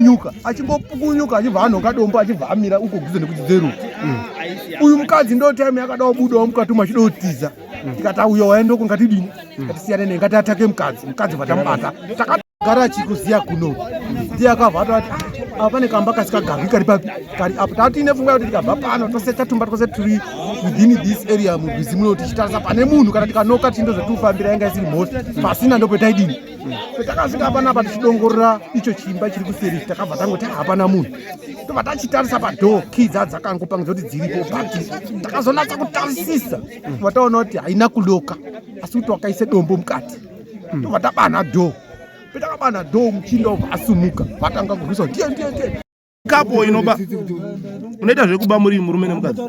nyuka achingopukunyuka achibva anhoka dombo achibva amira uko guze nekuchidzero mm. uyu mukadzi ndo time yakada kubudawo mukati umu achida kutiza mm. tikati auya waenda uko ngatidini mm. ngatisiyane ne ngati atake mukadzi mukadzi vatamubata takagara achikuziya kuno ndiye akabva atati apa pane kamba kasikagarwi kari papi kari apo tava tiine pfungwa yekuti tikabva pano tose tatumba twose tiri within this area murwizi muno tichitarisa pane munhu kana tikanoka tindo zvatifambira yanga isiri mhosi pasina ndopetaidini patakasvika panapa tichidongorora icho chimba chiri kuseri takabva tangoti hapana munhu tobva tachitarisa padoo kii dza dzakangopangidza kuti dziripo but takazonatsa kutarisisa tobva taona kuti haina kuloka asi kuti wakaise dombo mukati tobva tabanha doo petakabanha doo muchinda obva asumuka vatanga kurwisa ndiye ndiye ndiye kapo inoba unoita zvekuba muri murume nemukadzi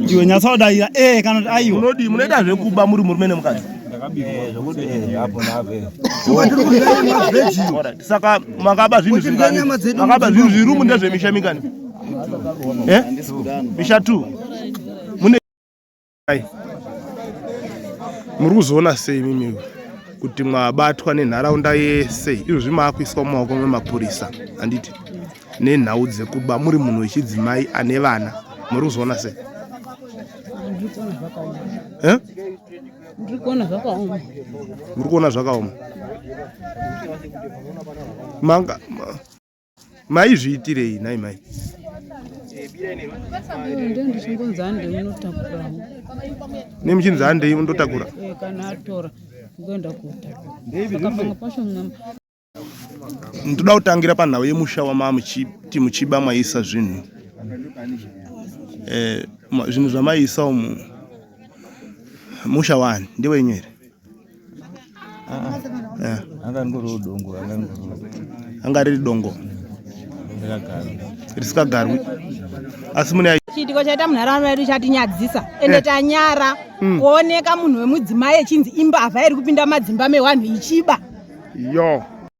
iwe nyatsodaira e eh, kana kuti aiwa unodii munoita zvekuba muri murume nemukadzi saka makaba zvinhu zvingamakaba zvinhu zvirumu ndezvemisha mingani eh? misha two Hai. Muri kuzoona sei mimi kuti mwabatwa nenharaunda yese izvozvi maakuiswa mumaoko memapurisa handiti nenhau dzekuba muri munhu wechidzimai ane vana muri kuzoona sei eh? muri kuona zvakaoma muri kuona zvakaoma manga maizviitirei nhai mai ndichingonzi handei unotakura ne muchinzi handei undotakura eh, kana atora kuenda kutakura pacho ndoda kutangira panhau yemusha wamamuchiti muchiba mwaisa zvinhu eh, zvinhu zvamaisa umu musha wani ndewenyu here Yeah. anga ngori udongo anga ngori anga riri dongo rakagara risikagarwi asi mune ai- chiitiko chaita munharaunda yedu chatinyadzisa ende Eh. tanyara Mm. kuoneka munhu wemudzimai echinzi imbavha iri kupinda madzimba mewanhu ichiba yo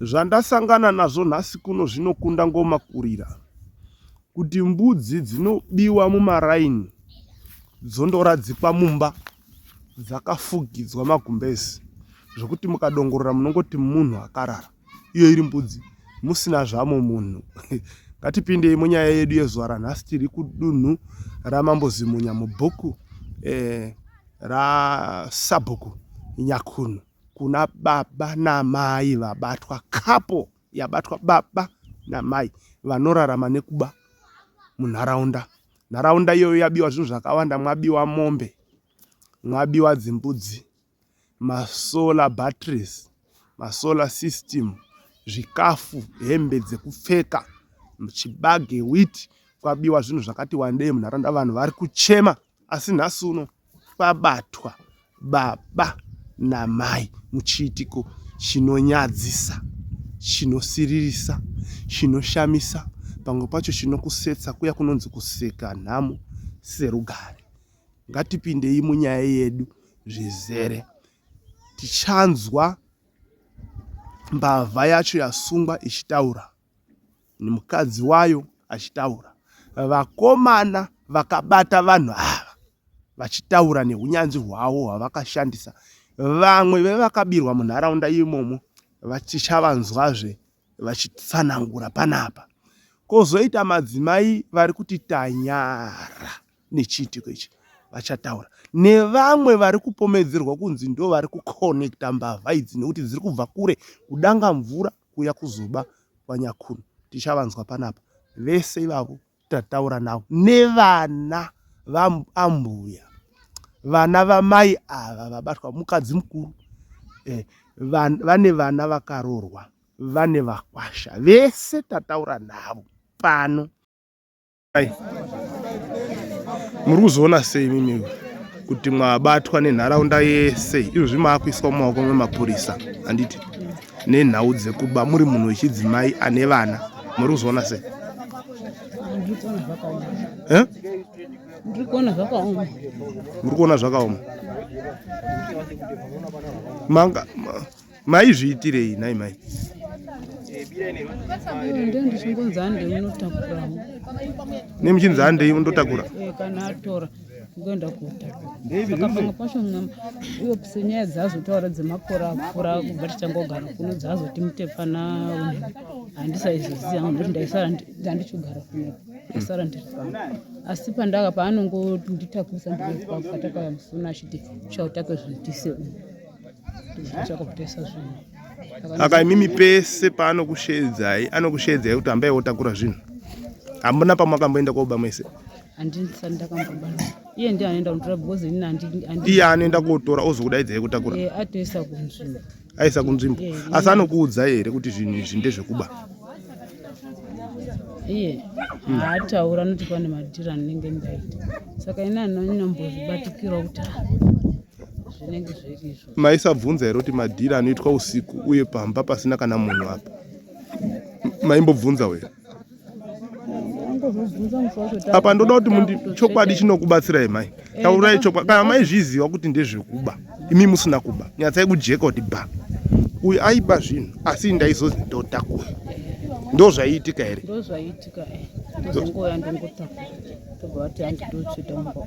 Zvandasangana nazvo nhasi kuno zvinokunda ngoma kurira kuti mbudzi dzinobiwa mumaraini dzondoradzikwa mumba dzakafugidzwa magumbezi zvekuti mukadongorora munongoti munhu akarara iyo iri mbudzi musina zvamo munhu ngatipindei munyaya yedu yezuva ranhasi tiri kudunhu ramambo zimunya mubhuku eh, rasabhuku nyakunhu kuna baba namai vabatwa couple yabatwa baba namai vanorarama nekuba munharaunda nharaunda iyoyo yabiwa zvinhu zvakawanda mwabiwa mombe mwabiwa dzimbudzi masolar batteries masolar system zvikafu hembe dzekupfeka chibage wit kwabiwa zvinhu zvakati wandei munharaunda vanhu vari kuchema Asi nhasi uno pabatwa baba namai muchiitiko chinonyadzisa, chinosiririsa, chinoshamisa, pamwe pacho chinokusetsa kuya kunonzi kuseka nhamo serugare. Ngatipindei munyaya yedu zvizere. Tichanzwa mbavha yacho yasungwa ichitaura. nemukadzi wayo achitaura. Vakomana vakabata vanhu ava vachitaura nehunyanzvi hwavo hwavakashandisa. Vamwe vevakabirwa munharaunda imomo vachichavanzwazve vachitsanangura panapa. Kozoita madzimai vari kuti tanyara nechiitiko ichi vachataura nevamwe vari kupomedzerwa kunzi ndo vari kukonekta mbavha idzi nekuti dziri kubva kure kudanga mvura kuuya kuzoba kwanyakunu tichavanzwa panapa vese ivavo tataura navo nevana vaambuya vana vamai ava vabatwa mukadzi mukuru eh, van, vane vana vakarorwa vane vakwasha vese tataura navo pano Hai. Muri kuzoona sei mimi kuti mwabatwa nenharaunda yese izvozvi maakuiswa mumaoko memapurisa handiti nenhau dzekuba muri munhu wechidzimai ane vana muri kuzoona sei eh? muri kuona zvakaoma manga maizviitirei nhai mai ne muchinzi handei undotakura eh, kana atora kuenda kuta saka pamwe pacho iwe senyaya dzaazotaura dzemakora akura kubva tichangogara kuno dzaazoti mutepfana handisaizoziva hangu ndokuti ndaisara ndandichogara kuno ndaisara ndiri pano asi pandaka paanongonditakurisa ndiri kwakataka musuna achiti uchautake zvitise uno aka imimi pese paanokusheedzai anokusheedzai kuti ambai wotakura zvinhu hamuna pamakamboenda koba mese iye ndiye anoenda kutora because ini iye anoenda kotora ozokudaidzai kutakura eh, atoisa kunzvimbo aisa kunzvimbo eh, asi anokuudza here kuti zvinhu izvi ndezvekuba iye hmm. haataura anoti pane madhiri anenge ndaita saka ini anombozvibatikirawo kuti zvinenge zvirizvo maisabvunza here kuti madhiri anoitwa usiku uye pamba pasina kana munhu apa maimbobvunza wena apa ndoda kuti mundi chokwadi chinokubatsirai mai eh, taurai chokwadi kana maizviziva kuti ndezvekuba imi musina kuba nyatsai kujeka kuti ba uyu aiba zvinhu asi ndaizozi ndotakura ndo zvaiitika here ndo zvaiitika eh. ndozongouya ndongotakura tobva vati handidotsuita mumba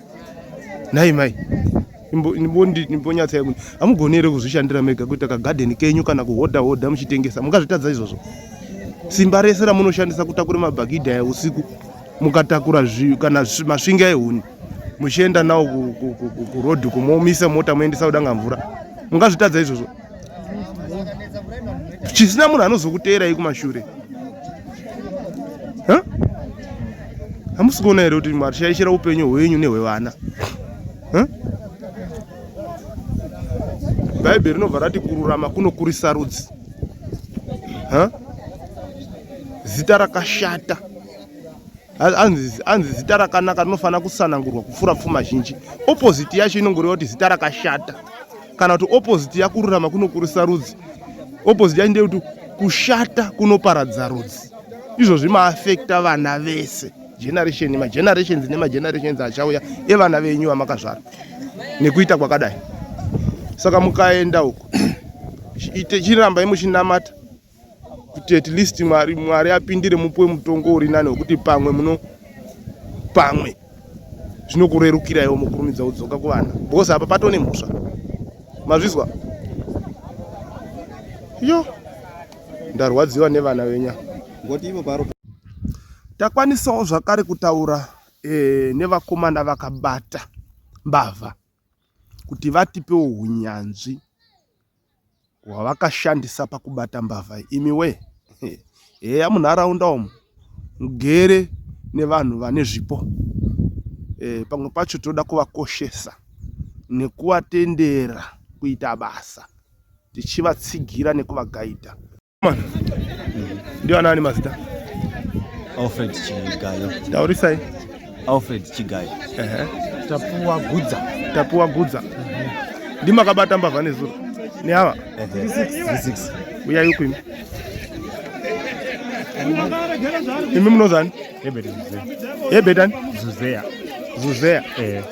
nhai mai imbonyatsai kuti hamugoni here kuzvishandira mega kuita kagadheni kenyu kana kuhodha hodha muchitengesa mungazvitadza izvozvo simba rese ramunoshandisa kutakura mabhagidha ya usiku mukatakura kana masvinga ehuni muchienda nawo kurodhi kumomisa mota moendesa kudanga mvura mungazvitadza izvozvo chisina munhu anozokuteerai kumashure hamusi kuona here kuti mwari shaishira upenyu hwenyu nehwevana bhaibheri rinobva rati kururama kunokurisa rudzi zita rakashata hanzi zita rakanaka rinofanira kusanangurwa kupfuura pfuma zhinji opposite yacho inongoreva kuti zita rakashata kana kuti opposite yakururama kunokurisa rudzi opposite yacho ndeyekuti kushata kunoparadza rudzi izvozvi maafekta vana vese generation magenerations nemagenerations achauya evana venyu vamakazvara nekuita kwakadai saka mukaenda uku chirambai muchinamata kuti at least mwari mwari apindire mupuwe mutongo uri nani wekuti pamwe muno pamwe zvinokurerukira iwo mukurumidza kudzoka kuvana because apa pato nemhosva mazvizwa yo ndarwadziwa nevana venya takwanisawo zvakare kutaura e, nevakomana vakabata mbavha kuti vatipewo unyanzvi hwavakashandisa pakubata mbavha imi wee heya munharaunda umu mugere nevanhu vane zvipo eh, pamwe pacho tinoda kuvakoshesa nekuvatendera kuita basa tichivatsigira nekuvagaidha. Ndio nani mazita? Alfred Chigayo. Taurisai. Alfred Chigayo. Ehe. Tapuwa Gudza. Tapuwa Gudza. Mhm. Ndima akabata mbavha nezuro. Ni hawa? Ehe. 36. Uya yuko imi. Imi mnozani? Ebedani. Ebedani. Zuzea. Zuzea. Ehe.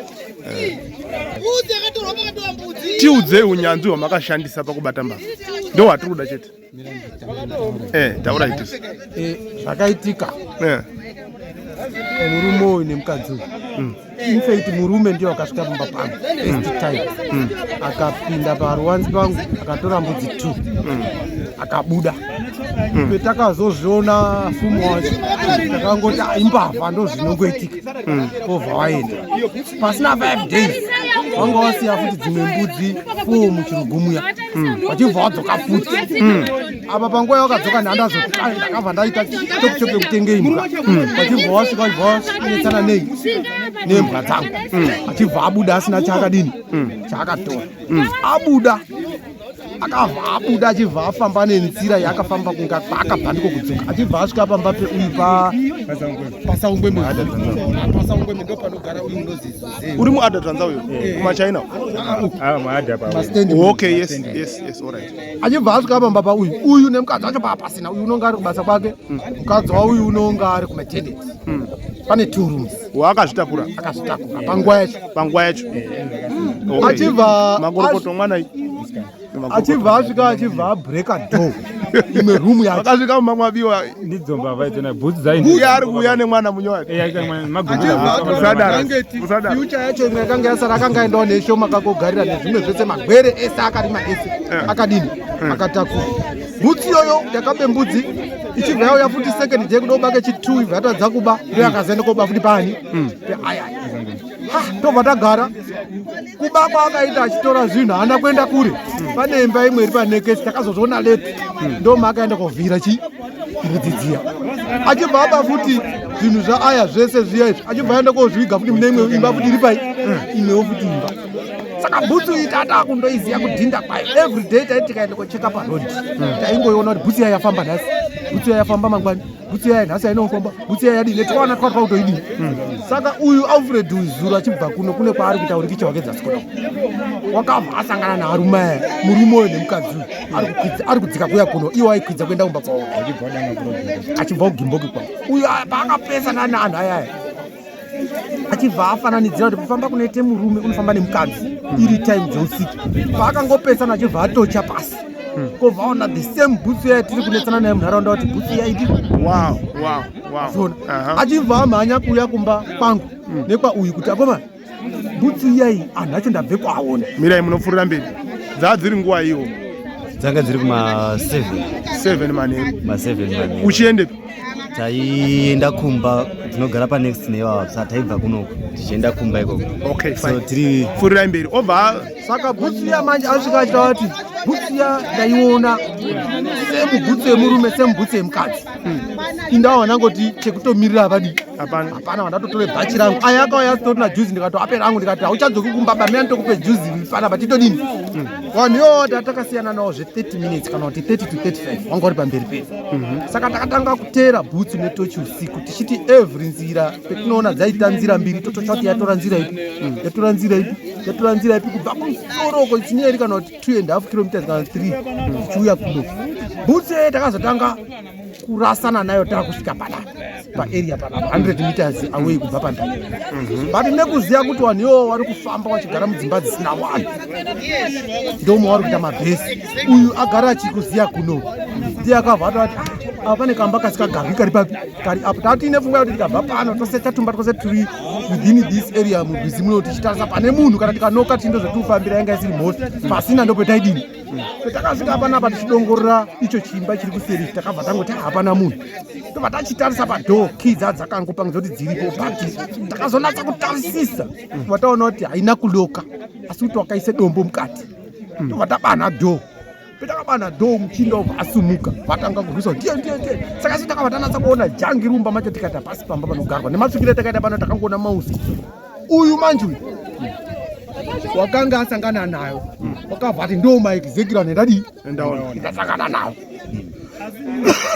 tiudzei unyanzvi hwamakashandisa pakubata mbavha ndo hwatiri kuda chete eh, taura iti eh, zvakaitika eh. murume uyu nemukadzi uyu mm. infact murume ndiyo akasvika pamba pangu mm. mm. akapinda paruwanzi pangu akatora mbudzi two akabuda petakazoziona fumo wacho takangoti ah, imbavha ndozvinongoitika ovhawaenda pasina 5 days vanga wasiya futi dzimwe mbudzi fo muchirugumuya vachibva wadzoka futi apa panguva yavakadzoka nhandazondakabva ndaita chokuchoke kutenge imbwa vachibva wasvika vachibva wanetsana nei nembwa dzangu achibva abuda asina chaakadini chaakatora abuda akabva abuda achibva afamba nenzira yaakafamba kunga kwaakabva ndiko kudzoka achibva asvika pamba peuyu papasaungwemepasaumbweme ndo panogara uyu unozii uri muada tanza uyo eh. kumachina achibva asvika pamba pauyu uyu nemukadzi wacho paapasina uyu unonga ari kubasa kwake hmm. mukadzi wauyu unonga ari kumatendensi hmm. pane two rooms waakazvitakura akazvitakura panguva yacho panguva yacho achibva makorokoto mwana achibva asvika achibva abreaka door imwe room yake akasvika mumamwe abiwa ndidzo mbavha idzo na bhutsu dzaini uye ari kuuya nemwana munyo wake eya ita mwana maguusadara usadara future yacho imwe yakanga yasara akanga aendawo neshoma kakogarira nezvimwe zvese magwere ese akarima ese akadini akatakura bhutsi iyoyo yakabe mbudzi ichibva yauya futi second day kuda kubake chitu ibva yatadza kuba ndo yakazoenda koba futi pani hmm. aya tobva tagara kuba kwaakaita achitora zvinhu haana kuenda kure hmm. pane imba imwe iri panekesi takazozviona leti hmm. ndoma akaenda kovhira chi mbudzi dziya achibva aba futi zvinhu zvaaya zvese zviya izvi achibva aenda kozviga futi mune imwe imba futi iri pai imwewo futi imba saka bhutsu iyi tata kundoiziva kudhinda kwayo every day taiti tikaenda kocheka paroad taingoiona kuti bhutsu iya yafamba nhasi bhutsu iya yafamba mangwani bhutsu iya nhasi yainofamba bhutsu iya yadii netikaona twa twautoidii saka uyu alfred uyu zuro achibva kuno kune kwaari kuita urikicha wake dzasikoda wakabva asangana naarume aya murume uyo nemukadzi uyu ari kudzika kuya kuno iwo aikwidza kuenda kumba kwavo achibva kugimboki kwavo uyu paakapesana naanhu ayaya achibva afananidzira kuti kufamba kunoite murume unofamba nemukadzi iri time dzeusiku paakangopesana achibva atocha pasi hmm. kovaona the same bhutsu yaya tiri kunetsana naye munharaunda kuti bhutsu yaidi achibva amhanya kuuya kumba kwangu hmm. nekwa uyu kuti akoma bhutsu iyai anhu acho ndabve kwaona mirai munopfuurira mberi dzaa dziri nguva iwo dzanga dziri kuma 7 7 manheru ma 7 manheru uchiendepi taienda kumba tinogara panext neivava sa taibva kunoko tichienda kumba ikoko okay, so tiri furirai mberi obva saka bhutsu ya manje asvika achita vati bhutsu ya ndaiona semu bhutsu yemurume semu bhutsu yemukadzi hmm. indawo vandangoti chekutomirira havadi hapana vandatotore bhachi rangu aya akauya asitori na juzi ndikato ape rangu ndikati hauchadzoki kumba bamia nditokupe juzi fana but itodini hmm. vanhu yoo tatakasiyana nawo zve 30 minutes kana kuti 30 to 35 wanga uri pamberi pedu Mhm. saka takatanga kuteera bhutsu netochi usiku tichiti every nzira petinoona dzaita nzira mbiri tototsva kuti yatora nzira ipi mhm. yatora nzira ipi yatora nzira ipi kubva kusoroko chinyeri kana kuti two and half kilometers kana three tichiuya mhm. kuno bhutsu yeye takazotanga kurasana nayo takusvika panapa paarea pana 100 meters away kubva pandau mhm. but nekuziva kuti vanhu iwo vari kufamba vachigara mudzimba dzisina vanhu ndomwe wari kuita mabhesi uyu agara achikuziva kuno ndiye akabva atati apa pane kamba kasikagarwi kari papi kari apo taa tiine pfungwa yekuti tikabva pano tose tatumba twose tiri within this area murwizi muno tichitarisa pane munhu kana tikanoka tindo zvatiri kufambira yanga isiri mhosi pasina ndopetaidini patakasvika panapa tichidongorora icho chimba chiri kuseri takabva tangoti hapana munhu tobva tachitarisa padoo kii dza dzakangopangidza kuti dziripo but takazonatsa kutarisisa tobva taona kuti haina kuloka asi kuti wakaisa dombo mukati tobva tabanha doo petakabana dho muchinda obva asumuka vatanga kurwisa ndiye ndiye ndiye saka isu takabva tanatsa kuona jangi rumba macho tikati hapasi pamba panogarwa nematsukire takaita pano takangoona mausi uyu manje uyu wakanga asangana nayo wakabva ati ndo maexecutor nendadii ndasangana nawo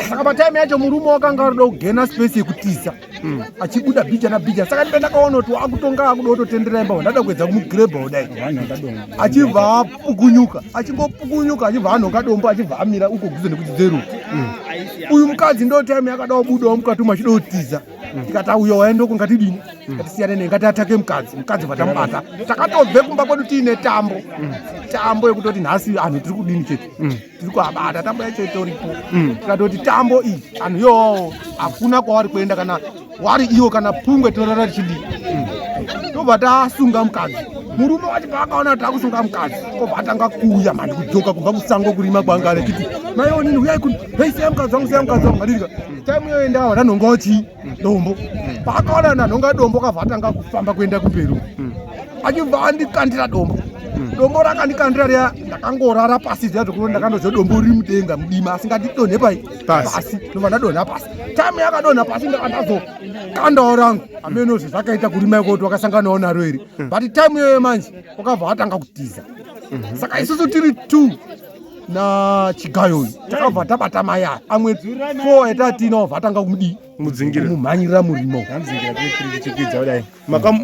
saka pataime yacho murume wakanga arida kugena space yekutiza hmm. achibuda bhija nabhija saka ndipe ndakaona kuti wakutonga akuda kutotendera imba ndada kuedza kumugrebha kudai achibva apukunyuka achingopukunyuka achibva anhonga dombo achibva amira uko guze nekuti dzeruka hmm. uyu mukadzi ndo time yakada kubudawo mukati umu achida kutiza tikati auya waenda uko ngatidini ngatisiyane ne ngati atake mukadzi mukadzi vatamubata takatobve kumba kwedu tiine tambo tambo yekutoti nhasi anhu tiri kudini chete tiri kuabata tambo yacho itoripo tikatoti tambo iyi anhu yoo hakuna kwawari kuenda kana wari iwo kana pungwe tinorara tichidii tobva tasunga mukadzi murume wacho paakaona kuti akusunga mukadzi kobva atanga kuuya mhandi kudzoka kubva kusango kurima kwanga achiti naiwo nini uyai kuni hei seya mukadzi wangu seya mukadzi wangu ngadidika Time yoenda wana nongoti dombo. Pakaona na nonga dombo kavatanga kufamba kuenda kumberi. Mm. Achibva andikandira dombo. Mm. Dombo rakandikandira riya ndakangorara pasi zviya zvekuti ndakandoziva dombo riri mudenga mudima asi ngatidonhe pai pasi ndobva ndadonha pasi time yakadonha pasi ndakandazo kandawo rangu ameno zve zvakaita kurima ikoti wakasanganawo naro iri mm. but time iyoyo manje wakabva watanga kutiza mm-hmm. saka isusu tiri two na chigayo uyu takabva tabata mai aya amwe fo yatatiinawo vatanga kudii mudzingira mumhanyirira murimo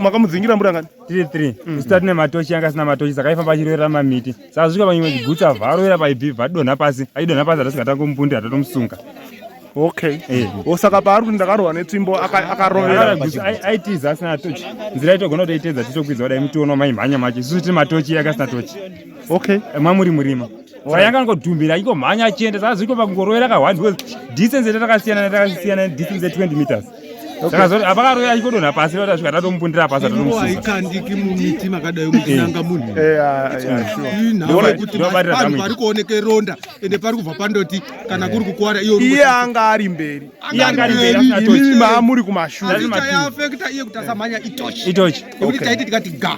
makamudzingira murangani tiri three mm. usitati nematochi yanga asina matochi saka aifamba achiroera mamiti saka svika panyimwe chigutsa varoera paibi vadonha pasi achidonha pasi hatasingatanga kumupundi hatatomusunga okay eh. osaka paari kuti ndakarohwa netsvimbo akarovera aitiza asina tochi nzira itogona kutoitedza titokwidza kudai mutiona maimhanya macho isusu tiri matochi yake asina tochi okay mamuri murima wayanga angodhumbira ingomhanya achienda saka zviko pakungorovera kahwani because distance yete takasiyana takasiyana distance ye 20 meters saka zoti apakaroya achikodonha pasi rota svika tatomubundira pasi tatomusuaikandiki mumiti makadai muchinanga eh. munhu eh, ah, inhamo kuti vanhu pari kuoneka ronda ende pari kubva pandoti kana kuri kukwara iyo iye anga ari mberi iye anga ari mberi imimi maamuri kumashure iye kuti asamhanya itochi itochi nekuti taiti tikati ga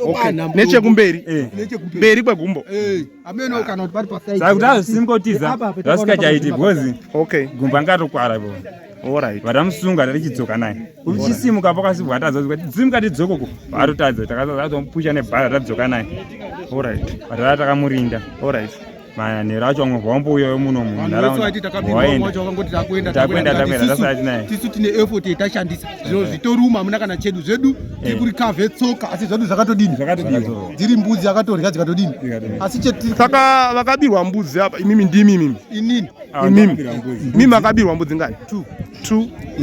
Okay. Nechekumberi. Eh. Nechekumberi. Mberi kwegumbo. Eh. Ameno kana kuti pari paside. Saka kuti azosingotiza. Vasikachaiti because. Okay. Gumbo angatokwara ipo. Alright. Vadamusunga ari chidzoka naye. Uchisimuka apo kasi bwatadza kuti dzimuka tidzoko ko. Varotadza takazadzomupusha nebhara tadzoka naye. Alright. Vatara takamurinda. Alright. manhanhero acho vamwe vambouya vemuno munharaundatisu tine effort yatashandisa zviro eh. zvitoruma hamuna kana chedu zvedu eh. tiri kuri kave tsoka asi zvedu zvakatodini dziri mbudzi dzakatorya dzikatodini asi saka vakabirwa mbudzi apa imimi ndimi imimi inini ah, imimi mimi akabirwa mbudzi ngani two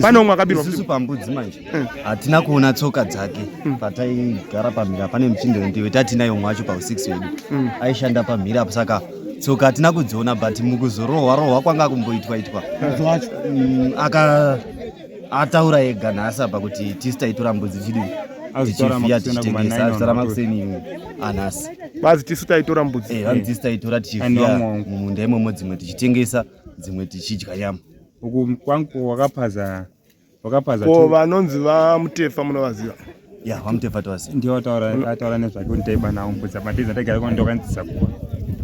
pane umwe akabirwa pambudzi manje hatina kuona tsoka dzake mm. pataigara pamhira pane muchindo ndiwe tatinayo mumwe wacho pau6 wedu mm. aishanda pamhira apo saka tsoka hatina kudziona but mukuzorohwa rohwa kwanga kumboitwa itwa mm, aka ataura ega nhasi apa kuti tisi taitora mbudzi chidii tichivhiya tichitengesa azvitora makuseni anhasi bazi tisu taitora mbudzi eh, vanotisi taitora tichivhiya mumunda imomo dzimwe tichitengesa dzimwe tichidya nyama uku kwangu wakapaza Wakapaza. Ko vanonzi vamutefa munovaziva? Ya, vamutefa tovaziva. Ndiwo ataura ataura nezvake kuti taiba nawo mbudza matiza taigara kwa ndokanzisa kuba.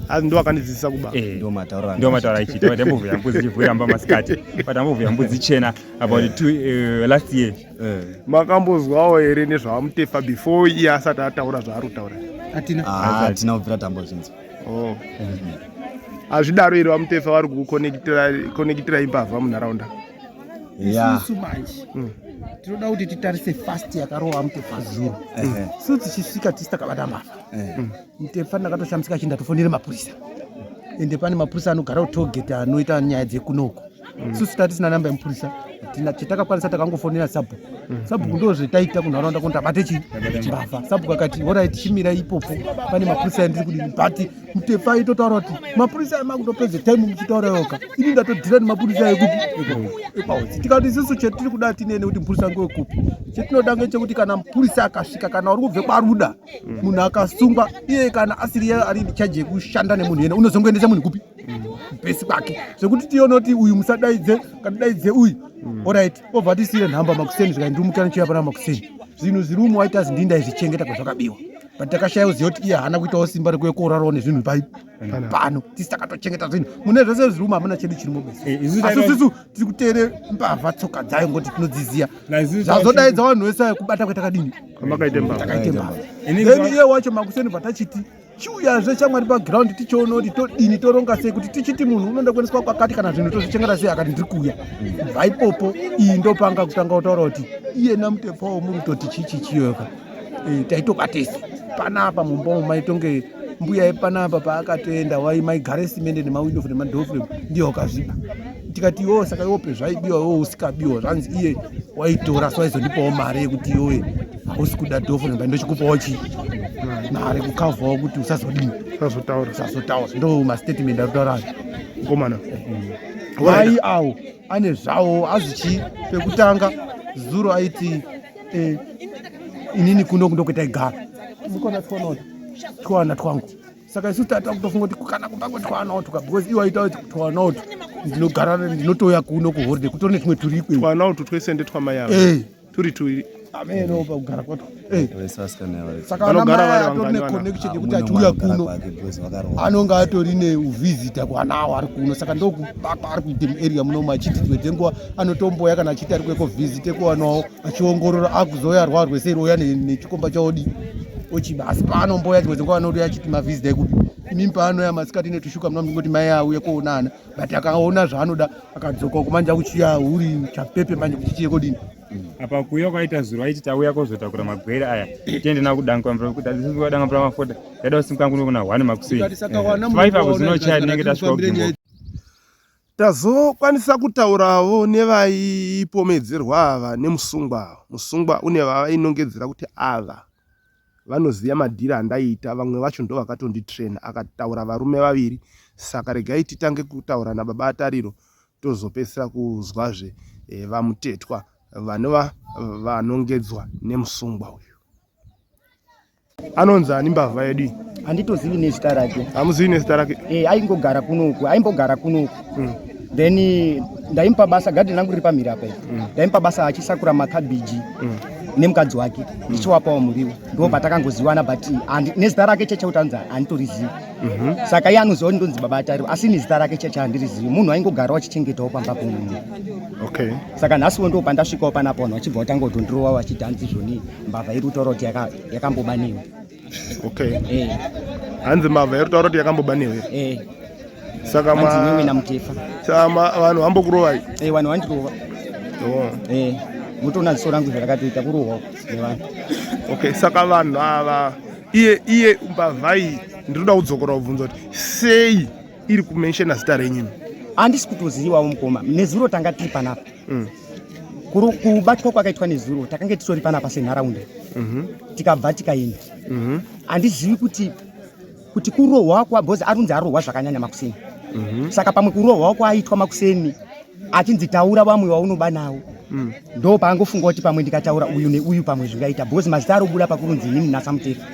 Asi ndo akandidzidzisa kuba. Eh, ndo mataura. Ndo mataura ichi. Ndo ndambo vuya mbudzi chivhuira mba masikati. But ambo vuya mbudzi chena about eh. two uh, last year. Eh. Makambozwawo here nezvavamutefa before iye asati ataura zvaari kutaura? Atina. Ah, atina kubvira tambo zvinzi. Oh. Mm -hmm. hazvidaro iri vamutefa vari kukukonekitira imbavha munharaunda isusu manje mm. tinoda kuti titarise fast yakarova mutefa zuro su tichisvika tisi takabata mbavha mm. mutefa ndakatoshamisika chinda tofonere mapurisa ende pane mapurisa anogara kutogeti anoita nyaya dzekunoku mm. susu tati sina namba yemupurisa chatakakwanisa takangofonera sabhuku sabhuku ndo zvetaita kunharaunda kuno tabate chii mbavha sabhuku akati orai tichimira ipopo pane mapurisa andiri kudini but mtefa aitotaura kuti mapurisa ayo makutopedza time muchitaura yoka ini ndatodhira nemapurisa ayo kupi epaudzi tikati isisu chetiri kuda tinene kuti mupurisa ngewe kupi chetinoda ngechekuti kana mupurisa akasvika kana uri kubve kwaruda munhu akasungwa iye kana asiri ye ari chaji yekushanda nemunhu yena unozongoendesa munhu kupi bhesi kwake zvekuti tionoti uyu musadaidze kana daidze uyu orit obva tisire nhamba makuseni zvikai ndiri mukana chiya pana makuseni zvinhu zviri umu waita zindinda izvichengeta kwazvakabiwa but takashaya kuziva kuti iye haana kuitawo simba rekuve koorarawo nezvinhu pai pano tisi takatochengeta zvinhu mune zvese zvirumu hamuna chedu chirimo bese eh, asi sisu tiri kuteere mbavha tsoka dzayo ngoti tinodziziva zvazodaidza vanhu vese ayo kubata kwetakadini kwamakaite mbavha takaite mbavha then iye wacho makuseni bva tachiti chiuyazve chamwari paground tichiona kuti todini toronga sei kuti tichiti munhu unoenda kuendeswa kwakati kana zvinhu tozvichengeta sei akati ndiri kuuya bva ipopo iyi ndopanga kutanga kutaura kuti iyena mutepawo muri kutoti chichichiyoka Eh, taitoba tese panapa mumba umu maitonge mbuya yepanapa paakatoenda wai maigare simende nemawindo fre madofre ndiye wakazvipa tikati iwo saka iwope zvaibiwa iwo usikabiwa zvanzi iye waitora so aizondipawo mari yekuti iwoye hausi kuda dofre mba ndochikupawo chii mari kukavhawo kuti usazodii usazotaura usazotaura ndo mastatement arutaurayo mukomana wai awo ane zvawo azvichii pekutanga zuro aiti Eh, inini kuno kundokwetaigara ndikona twanoti twana twangu saka isu tata kutofunga kuti kana kuba kwetwana otuka because iwo aita kuti twana otu ndinogara ndinotouya kuno kuhoride kutori netumwe turikwe twana otu twese ndetwamai avo eh. turi tuiri ameno pakugara kwato eh. saka anamai atori neconnection yekuti achiuya kuno anonge atori neuvhizita kwana awo ari kuno saka ndoku Bako ari kuita muarea munomu achiti dzimwe nguva anotomboya kana achiti ari kueko visit ekuwanawo achiongorora akuzoya arwarwe sei rouya nechikomba chaodi ochiba asi paanomboya dzimwe dzenguva anouya achiti mavisit ekupi imimi paanoya masikati netushuka muna mungoti mai auye kuonana but akaona zvaanoda akadzoka kumanja kuchiya uri chapepe manje kuti chiye kodini apa kuuya kwaita zuro aiti tauya kozotakura magwere aya tiende navo kudangakudaanga pura mafota yaida kusimuka kuno kuna one makuseifaive apo zinochaya tinenge tasvika tazokwanisa kutaurawo nevaipomedzerwa ava nemusungwa ava musungwa une vavainongedzera kuti ava vanoziva madhiri andaiita vamwe vacho ndo vakatonditraina akataura varume vaviri saka regai titange kutaura nababa atariro tozopedzisira kuzwazve eh, vamutetwa vanova vanongedzwa nemusungwa uyu anonzi ani mbavha yedu handitozivi nezita rake hamuzivi nezita rake e, aingogara kunoku aimbogara kunoku mm. then ndaimupa basa gadhi rangu riri pamhiri apa ii mm. ndaimupa basa achisakura makabhiji mm. nemukadzi wake ndichiwapawo mm. muriwo ndo patakangoziwana but nezita rake checheutanza handitorizivi Mhm. saka iye anoziva kuti ndonzi baba atariro asi ini zita rake chete handirizivi munhu aingogarawo achichengetawo pamba pomumwe okay saka nhasiwo ndo pandasvikawo panapa vanhu vachibva vatanga kudhondirowa vachiti hanzi zvoni mbavha iri kutaura kuti yaka- yakamboba newe okay Eh, hanzi mbavha iri kutaura kuti yakamboba newe eh, saka hanzi newe ma- namutefa saka ma- vanhu vambokurovai Eh, vanhu vandirova Oh. Eh, mutoona ziso rangu zvarakatoita kurohwa nevanhu okay saka vanhu ava iye iye mbavhai ndinoda kudzokora kubvunza kuti sei iri kumenshena zita renyini handisi kutozivawo mukoma nezuro tanga tiri panapa mm. kubatwa kwakaitwa nezuro takange titori panapa senharaunda mhm. tikabva tikaenda mhm. handizivi kuti kuti kurohwa kwa bhozi arunzi arohwa zvakanyanya makuseni mhm. saka pamwe kurohwa kwaaitwa makuseni achinzi taura vamwe vaunoba nawo mm. ndo paangofunga kuti pamwe ndikataura uyu neuyu pamwe zvingaita because mazita ari kubuda pakurunzi inini nasamutefa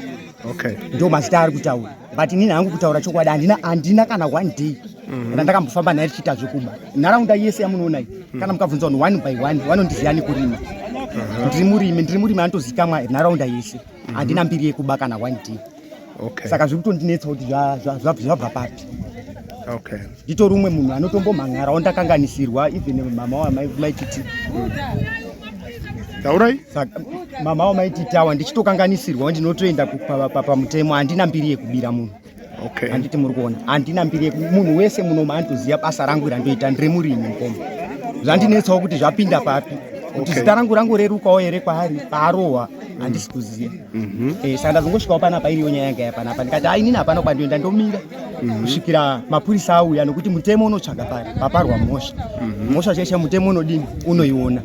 okay. ndo mazita ari kutaura but inini hangu kutaura chokwadi handina handina kana one day mm. kana ndakambofamba naye tichiita zvekuba nharaunda yese yamunoona iyi mm. kana mukabvunza vanhu one by one vanondiziva nekurima uh-huh. ndiri murimi ndiri murimi anotozikamwa nharaunda yese mm-hmm. handina mbiri yekuba kana one day okay. saka zviri kutondinetsa kuti zvabva papi okay. nditori umwe munhu anotombomhan'arawo ndakanganisirwa even mama wamaititi taurai mama wamaititi awa ndichitokanganisirwa ndinotoenda pamutemo handina mbiri yekubira munhu okay. handiti muri kuona handina mbiri munhu wese munoma andoziva basa rangu randoita ndiri murimi mukoma zvandinetsawo kuti zvapinda papi kuti okay. zita rangu rangu rerukawo here kwaari paarohwa handisi kuziva mhm. eh, saka ndazongosvikawo panapa iriyo nyaya yanga yapanapa ndikati hai nini hapana kuba ndoenda ndomira mhm. kusvikira mapurisa auya nokuti mutemo unotsvaga pari paparwa mhosva mhm. mhosva chaisha mutemo unodini unoiona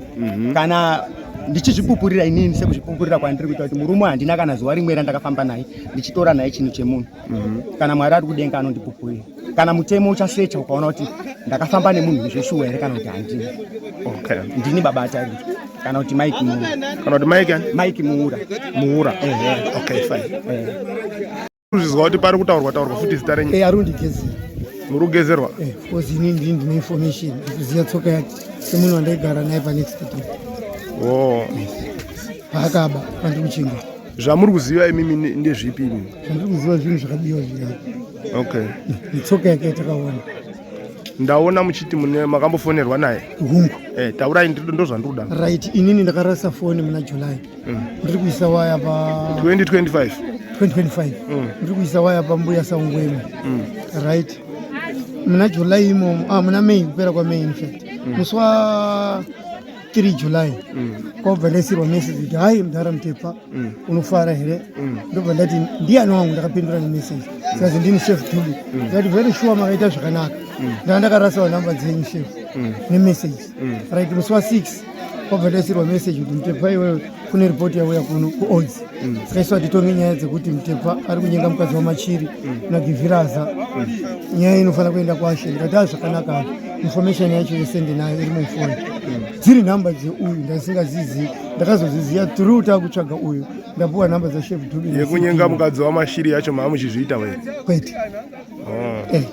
kana ndichizvipupurira inini sekuzvipupurira kwandiri kuita kuti murume handina kana zuva rimwe randakafamba naye ndichitora naye chinhu chemunhu Mhm. kana mwari ari kudenga anondipupurira kana mutemo uchasecha ukaona kuti ndakafamba nemunhu zveshuwa here kana kuti handini okay. ndini baba atari kana kuti mike muura kana kuti mike mike muura muura ehe okay fine ehe kuzvizwa kuti pari kutaurwa taurwa futi zita renyu eh arundigezera muri kugezerwa eh because ini ndini ndine information ndikuziva tsoka yake semunhu wandaigara naye panext door oh yes. paakaba pandiri kuchinga zvamuri kuziva imimi ndezvipi imi zvandiri kuziva zvinhu zvakadiwa zviya okay netsoka yake yatakaona ndaona muchiti mune makambofonerwa naye hungu eh, taurai ndiri- ndozvandiri kuda right inini ndakarasa foni muna july ndiri kuisa waya pa 2025 2025 ndiri kuisa waya pambuya saungwema right muna july imomo ah, muna may kupera kwamay infact musi wa 3 July kwabva ndaisirwa message kuti hai mdhara Mtepa unofara here ndobva ndati ndiyani wangu ndakapindura nemessage zikazi ndini chef Dube ndati very sure makaita zvakanaka ndaa ndakarasawo number dzenyu chef nemessage right musi wa 6 kwabva ndaisirwa message kuti Mtepa iwewe kune ripoti yauya kuno kuodzi mm. tikaiswa titonge nyaya dzekuti mutepfa ari kunyenga mukadzi wamachiri mm. nagiviraza mm. nyaya inofanira kuenda kwashe ndikati a zvakanaka information yacho yese ndinayo iri mufoni dziri nhamba dzeuyu ndasingazizivi ndakazoziziva tru takutsvaga uyu ndapuwa nhamba dzashef dubi yekunyenga mukadzi wamashiri yacho maamuchizviita were kwete oh. eh,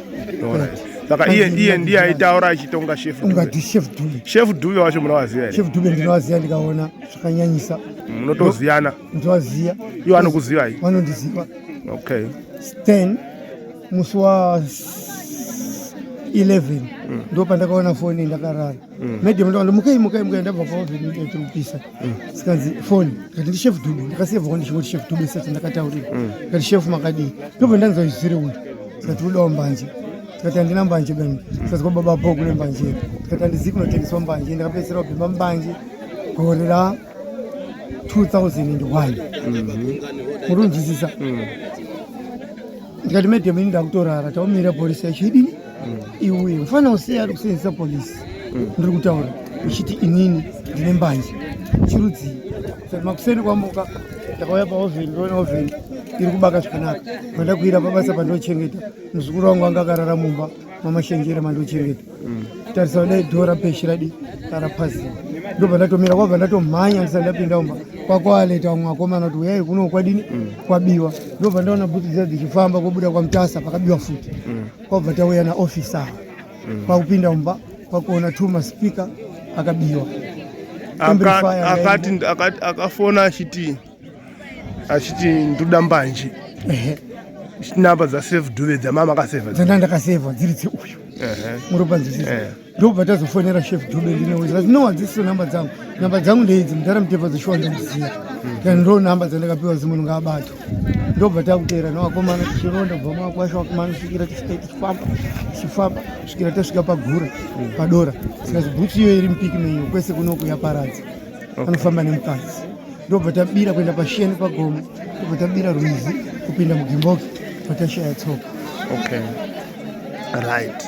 saka iye iye ndiye aitaura achitonga shef ungati shef dube shef dube wacho munovaziva here shef dube ndinovaziva ndikaona zvakanyanyisa munotoziyana ndovaziva iwo anokuzivai vanondiziva okay then musi wa 11 mm. ndo pandakaona foni ndakarara mm. madam ndakati mukai mukai mukai ndabva paovenikupisa mm. sikanzi foni kati ndishef dube ndakasevhwa ndichingoti shef dube sati ndakataurira mm. kati shef makadii ndobva ndanzwa izvire uyu sikati udawo mbanje tikati handina mbanje bani tikazwa baba bho kune mbanje tikati handizivi kunotengeswa mbanje ndakapedzisira kubhema mbanje gore ra 2001 mhm. muri kunzwisisa mm. ndikati madam ini ndakutorara taumira polisi yacho idini mm. iuye mufana usei ari kusenzesa polisi mm. ndiri kutaura uchiti inini ndine mbanje chirudzii makuseni kwamuka ndakauya paovheni ndoona ovheni iri kubaka zvakanaka pandakuira pabasa pandinochengeta muzukuru wangu anga akarara mumba mamashenjere mandochengeta mm. tarisa kudai dho rapeshi radi rarapazia ndobva ndatomira kwabva ndatomhanya ndisati ndapinda umba kwakwaleta vamwe vakomana kuti uyai kuno kwadini mm. kwabiwa ndobva ndaona bhutsu dzia dzichifamba kobuda kwamutasa pakabiwa futi mm. kwabva tauya naofisa kwakupinda umba kwakuona two maspika akabiwa akati akafona achiti achiti ndoda mbanje namba dzasave dhuve dzamama akaseva dzanda ndakaseva dziri dzeuyu muropanzwisisa eh. ndobva tazofonera chef dube ndinowezati no hadzisiso namba dzangu namba dzangu ndeidzi mudhara mutepfa dzeshuwa ndomuziva kana ndo namba dzandakapiwa zimunhu ngaabato ndobva takuteera novakomana tichironda bva makwasha vakomana svikira tisvika tichifamba tichifamba svikira tasvika pagura padora sika zvibhutsu iyo iri mupiki menyu kwese kunoku yaparadza anofamba nemukadzi ndobva tabira kuenda pasheni pagomo ndobva tabira rwizi kupinda mugimboki patashaya tsoka okay right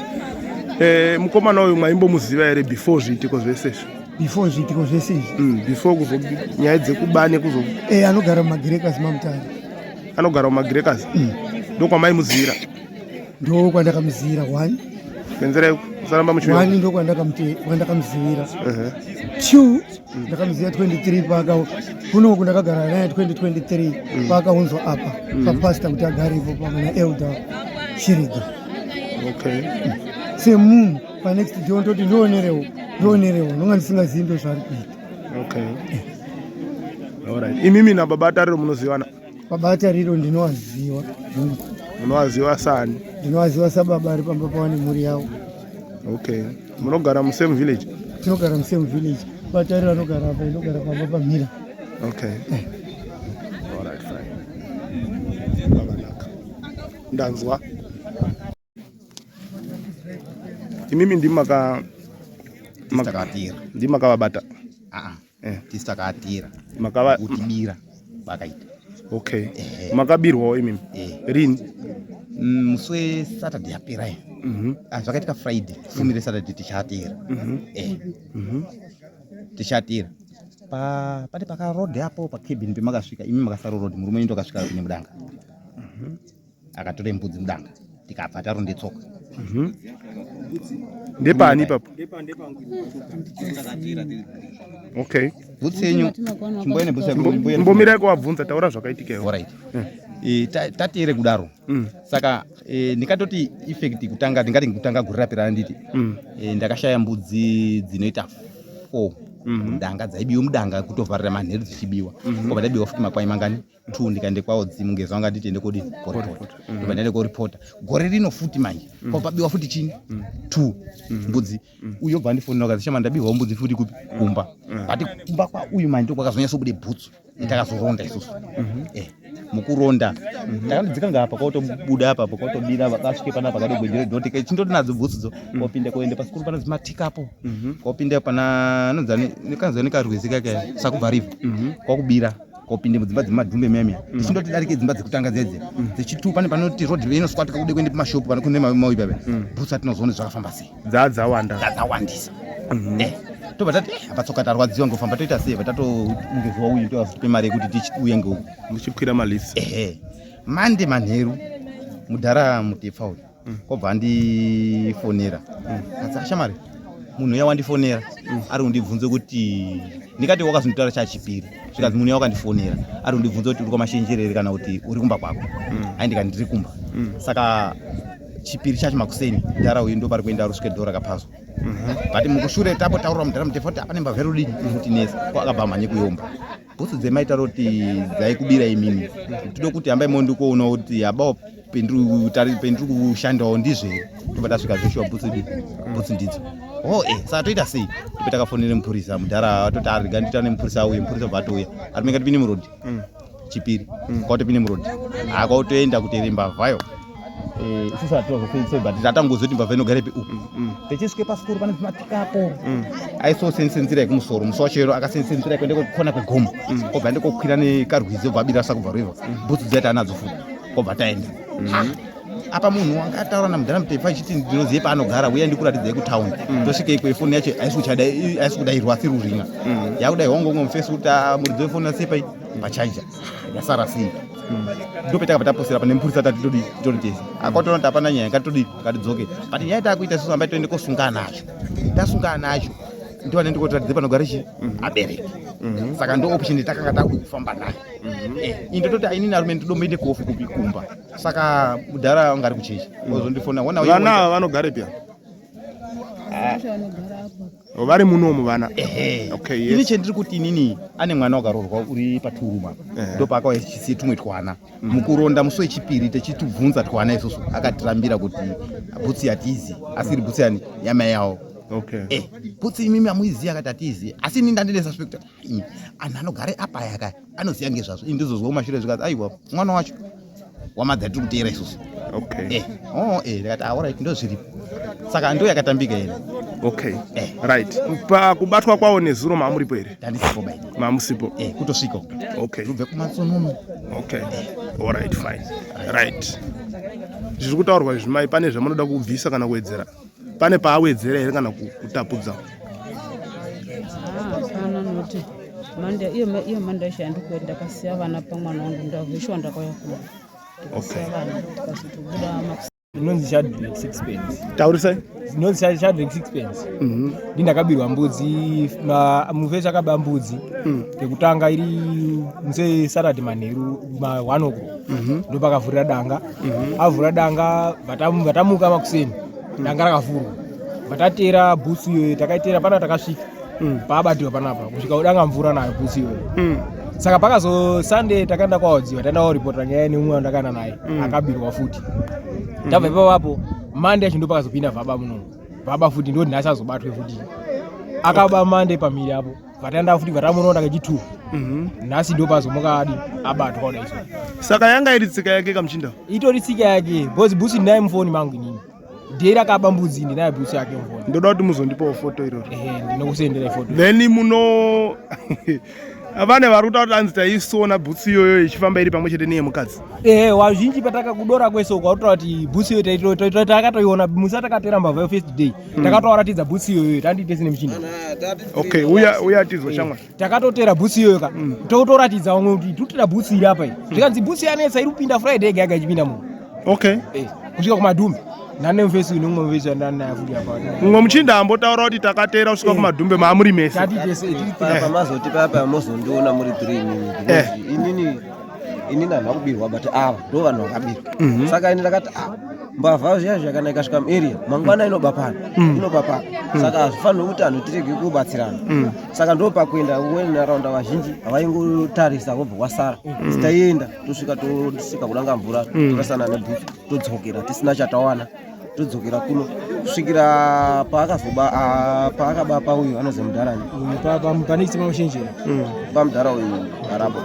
eh, mukomana uyu mwaimbomuziva here before zviitiko zvese izvi before zviitiko zvese izvi mm, before kuzo nyaya dzekuba nekuzo e eh, anogara mumagrekas mamutari anogara mumagrekas mm. ndo kwamaimuzivira ndo kwandakamuzivira one kwenzera yeku saramba muchiwani ndo kwandakamuzivira uh-huh. two ndakamuziva 23 paaka kunoku ndakagara naye 2023 mm. paakaunzwa apa mm. papasta kuti agare ipo pamwe naelder shiriga okay. semunhu panext jon toti ndionerewo ndionerewo ndonga ndisingazivi ndozvaari kuita okay. Eh. Alright. Imimi na baba Tariro munozivana? Baba Tariro ndinowaziwa. Munowaziwa sani? Ndinowaziwa sababa ari pamba pawane mhuri yawo. Okay. Munogara mu same village? Tinogara mu same village. Baba Tariro anogara apa, inogara pamba pamira. Okay. Eh. All right, fine. Ndanzwa. imimi ndimi maka makavabira ndimi makavabata aa eh. tisi takavabira makava kutibira vakaita okay eh. makabirwawo imimi eh. rini mm, musi wesaturday yapera ye mm -hmm. ah, zvakaitika friday fumi resaturday tichatira mm -hmm. eh. mm -hmm. tichatira pa pati pakarod apo pacabin pemakasvika imi makasaro rod murume nyito akasvika kune mudanga mm -hmm. akatora mbudzi mudanga tikabva tarondetsoka mhm. ndepani ipapo okay bhutsi yenyu chimboene bhutsi mbomira kuwabvunza taura zvakaitika iwo right eh. e, tatiere kudaro mm. saka e, ndikatoti effect kutanga ndingati kutanga guri rapera nditi mm. e, ndakashaya mbudzi dzinoita four mm-hmm. ndanga dzaibiwa mudanga kutovharira manheru dzichibiwa mm-hmm. obva taibiwa futi makwai mangani two ndikaende kwaodzimu ngezva vanga nditi ende kodii koripota mm. ndikaende koripota gore rino futi manje mm. kwapabiwa futi chini mm. two mbudzi uyo bva ndifonera kazi shama ndabiwawo mbudzi futi kupi kumba but kumba kwauyu manje kwakazonyatsobude bhutsu takazoronda isusu mhm. eh, mukuronda mhm. takandidzika ngaapa kwakutobuda apapo kwakutobira vakasvike pana pakade gwenjere doti ke chindoti nadzo bhutsudzo mhm. kwapinda kwaende pasikuru pana zimatikapo kwapinda pana anonzi kanzani karwezi kake sakubva riva kwakubira kopinde mudzimba dzemadhumbe meme mm. tichindoti darike dzimba dzekutanga dzedze mm. dzechitu pane panoti road rei inoswatika kude kuende pamashopu pane kune mauyi pave mm. butsa tinozoona zvakafamba sei dzaa dzawanda dzaa dzawandisa mm-hmm. eh, tobva tati eh, apa tsoka tarwadziwa ngofamba toita sei bva tatoungeziwa uyu toazotipe mari yekuti tichiuye ngeu muchikwira malisi ehe mande manheru mudhara mutepfa uyu mm. kobva andifonera mm. shamari munhu uya wandifonera mm. ari kundibvunza kuti ndikati wakazonditora chachipiri zvikanzi munhu uya wakandifonera ari kundibvunza kuti uri kwamashenjerere kana kuti uri kumba kwako hai ndikati ndiri kumba saka chipiri chacho makuseni mdhara uyu ndo pari kuenda rusvike dhora kapazwa mhm. but mukushure tapo taurira mdhara mutefa kuti apane mbavherudii kuti nesi ko akabva mhanye kuyomba bhutsu dzemaitaro kuti dzaikubira imimi tode kuti hambai mondikoona kuti habao pendiri kushandawo ndizvo here tobva tasvika zveshuwa bhutsu di bhutsu ndidzo o oh, e eh, saa toita sei tipe takafonera mupurisa mudhara atoti arega ah, nditaura nemupurisa auye mupurisa bva atouya atomeka tipinde murodhi mm. chipiri mm. kwauto pinde murodhi akautoenda kuterembavhayo Eh, isusu hatitozofeisoi but tatangoziva kuti mbavha inogara ipi upi mm, mm. techisvike pasikuru pane zvimatikapo mm. aisosenzise nzira yekumusoro musi wacho yero akasenzise nzira yekuende kokona kwegomo obva ende kokwira nekarwizi obva abira sakubva river bhutsu dziya taanadzo futi obva taenda ah, apa munhu wanga ataura namudhara mutefa ichiti ndinozive paanogara uye ndikuratidzai kutaundi tosvika ikwe foni yacho aisi kudairwa asi ruringa yakudairwa ngongo mufesi kuti ah, muridzi wefoni asepai pachaija yasara sei hmm. ndopetaka pataposera pane mupurisa tati todi todi tese akwatoona kuti hapana nyaya ngatitodi ngatidzoke but nyaya takuita susu ambai toende kosungana nacho tasungana nacho ndiwane ndikotiratidze panogara chi mhm. abereki mhm. saka ndo option yatakanga takufamba nayo mhm. eh, ini toti aini narume ndidomboende kofu kupi kumba saka mudhara anga ari kuchechi ozondifona vana vanogare pya ah. Oh, vari munomu vana ehe okay yes ini chendiri kuti inini ane mwana wakarorwa uri paturuma ndo paakawa chisi tumwe twana mm. mukuronda musi wechipiri techitubvunza twana isusu akatirambira kuti bhutsi yatizi asiri bhutsi yani yamai yawo okay eh bhutsi imimi amuiziya akati atizi asi ini ndandine suspect iyi anhu anogare apa aya kaya anoziva ngezvazvo ini ndizozwa kumashure zvikanzi aiwa mwana wacho wamadza tiri kuteera isusu okay eh oh eh ndikati ah alright ndozviripo saka ndo yakatambika ine okay eh. right pakubatwa kwawo nezuro maamuripo here ndandisipo bai maamusipo eh kutosvika okay ndobve kumatsonono okay eh. all right fine right zviri kutaurwa izvi mai pane zvamunoda kubvisa kana kuwedzera pane paawedzera here kana kutapudza manda iyo iyo manda isha ndiko ndakasiya vana pamwana wangu ndaveshiwa ndakauya kuno ndakasiya vana ndikazotobuda makusa inonzi chadrek sixpence taurisai inonzi chadrek sixpence mhm. ndi ndakabirwa mbudzi mufesi akaba mbudzi mm. yekutanga iri muse sarati manheru ma one o'clock mhm. ndopakavhurira danga mhm. avhura danga vatamuka makuseni mm. danga rakavhurwa vatatera bhutsu iyoyo takaitera pana takasvika mm. paabatiwa panapa kusvika udanga mvura nayo bhutsu iyoyo mm. saka pakazo sunday takaenda kwaodziwa taenda koripota nyaya neumwe wandakaenda naye akabirwa futi tabva ipapapo mande yacho ndopakazopinda vaba muno vaba futi ndoti nhasi azobatwe futi akaba mande pamhiri apo vataenda futi vatamunoona kechitwo mhm. nhasi ndo pazomukadi abatwa kuda iso saka yanga iri tsika yake kamuchinda itori tsika yake bcause busi ndinaye mufoni mangu inini dei rakaba mbudzi ndinaye busi yake mufoni ndoda kuti muzondipawo foto iroro ehe ndinokusendera ifoto then muno vane vari kutaura kuti anzi taisona bhutsu iyoyo ichifamba iri pamwe chete neyemukadzi ehe wazhinji patakakudora kwese ukautaura kuti bhutsu iyoyo takatoiona musi atakatora mbavha yo first day takatoaratidza bhutsi iyoyo tandiite sine muchini okay uya uya tizo eh, shamwa takatotera bhutsi iyoyo ka mm. totoratidza vamwe kuti totera bhutsi iri apa iyi mm. zvikanzi bhutsi yanetsa iri kupinda friday ega yaga ichipinda muno okay eh, kusvika kumadhumbi nane mvesi ine umwe mvesi yandanaye futi apa mumwe muchinda ambotaura kuti takatera kusvika eh. kumadhumbe maamuri mese tatitese pamazoti papa mozondiona muri three inini ini nanhu vakubirwa but ava ndo vanhu vakabirwa mhm. saka ini ndakati ah, mbavha zviya zvakana ikasvika muarea mangwana inoba pano mhm. inoba pano mhm. saka hazvifanire kuti anhu tirege kubatsirana saka ndo pakuenda wenharaunda vazhinji havaingotarisa vobva wasara taienda tosvika tosvika kunanga mvura torasana nebhufu todzokera tisina chatawana todzokera kuno kusvikira paakazoba ah, paakaba pauyu anozi mudharani pane chitsima machenjera mm, pamudhara uyu arabo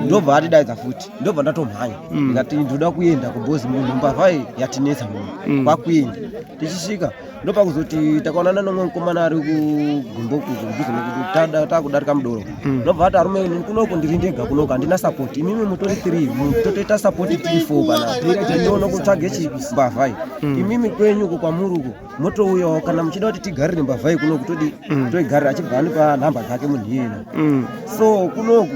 ndobva atidaidza futi ndobva ndatomhanya ndikati ndoda kuenda kubhozi munhu mbavha yatinetsa munhu kwakuenda tichisvika ndopakuzoti takaonana nomwe mukomana ari kugumbo kuzombuzi nekuti takudarika mudoro hmm. ndobva ati arume ini kunoku ndiri ndega kunoku handina sapoti imimi mutori three totoita sapoti tiri four kana tindiona kutsvage chimbavhai hmm. imimi kwenyu uko kwamuri uko motouyawo kana muchida kuti tigarire mbavhai kunoku todi hmm. toigarira achibva anipa nhamba dzake munhu iyena so kunoku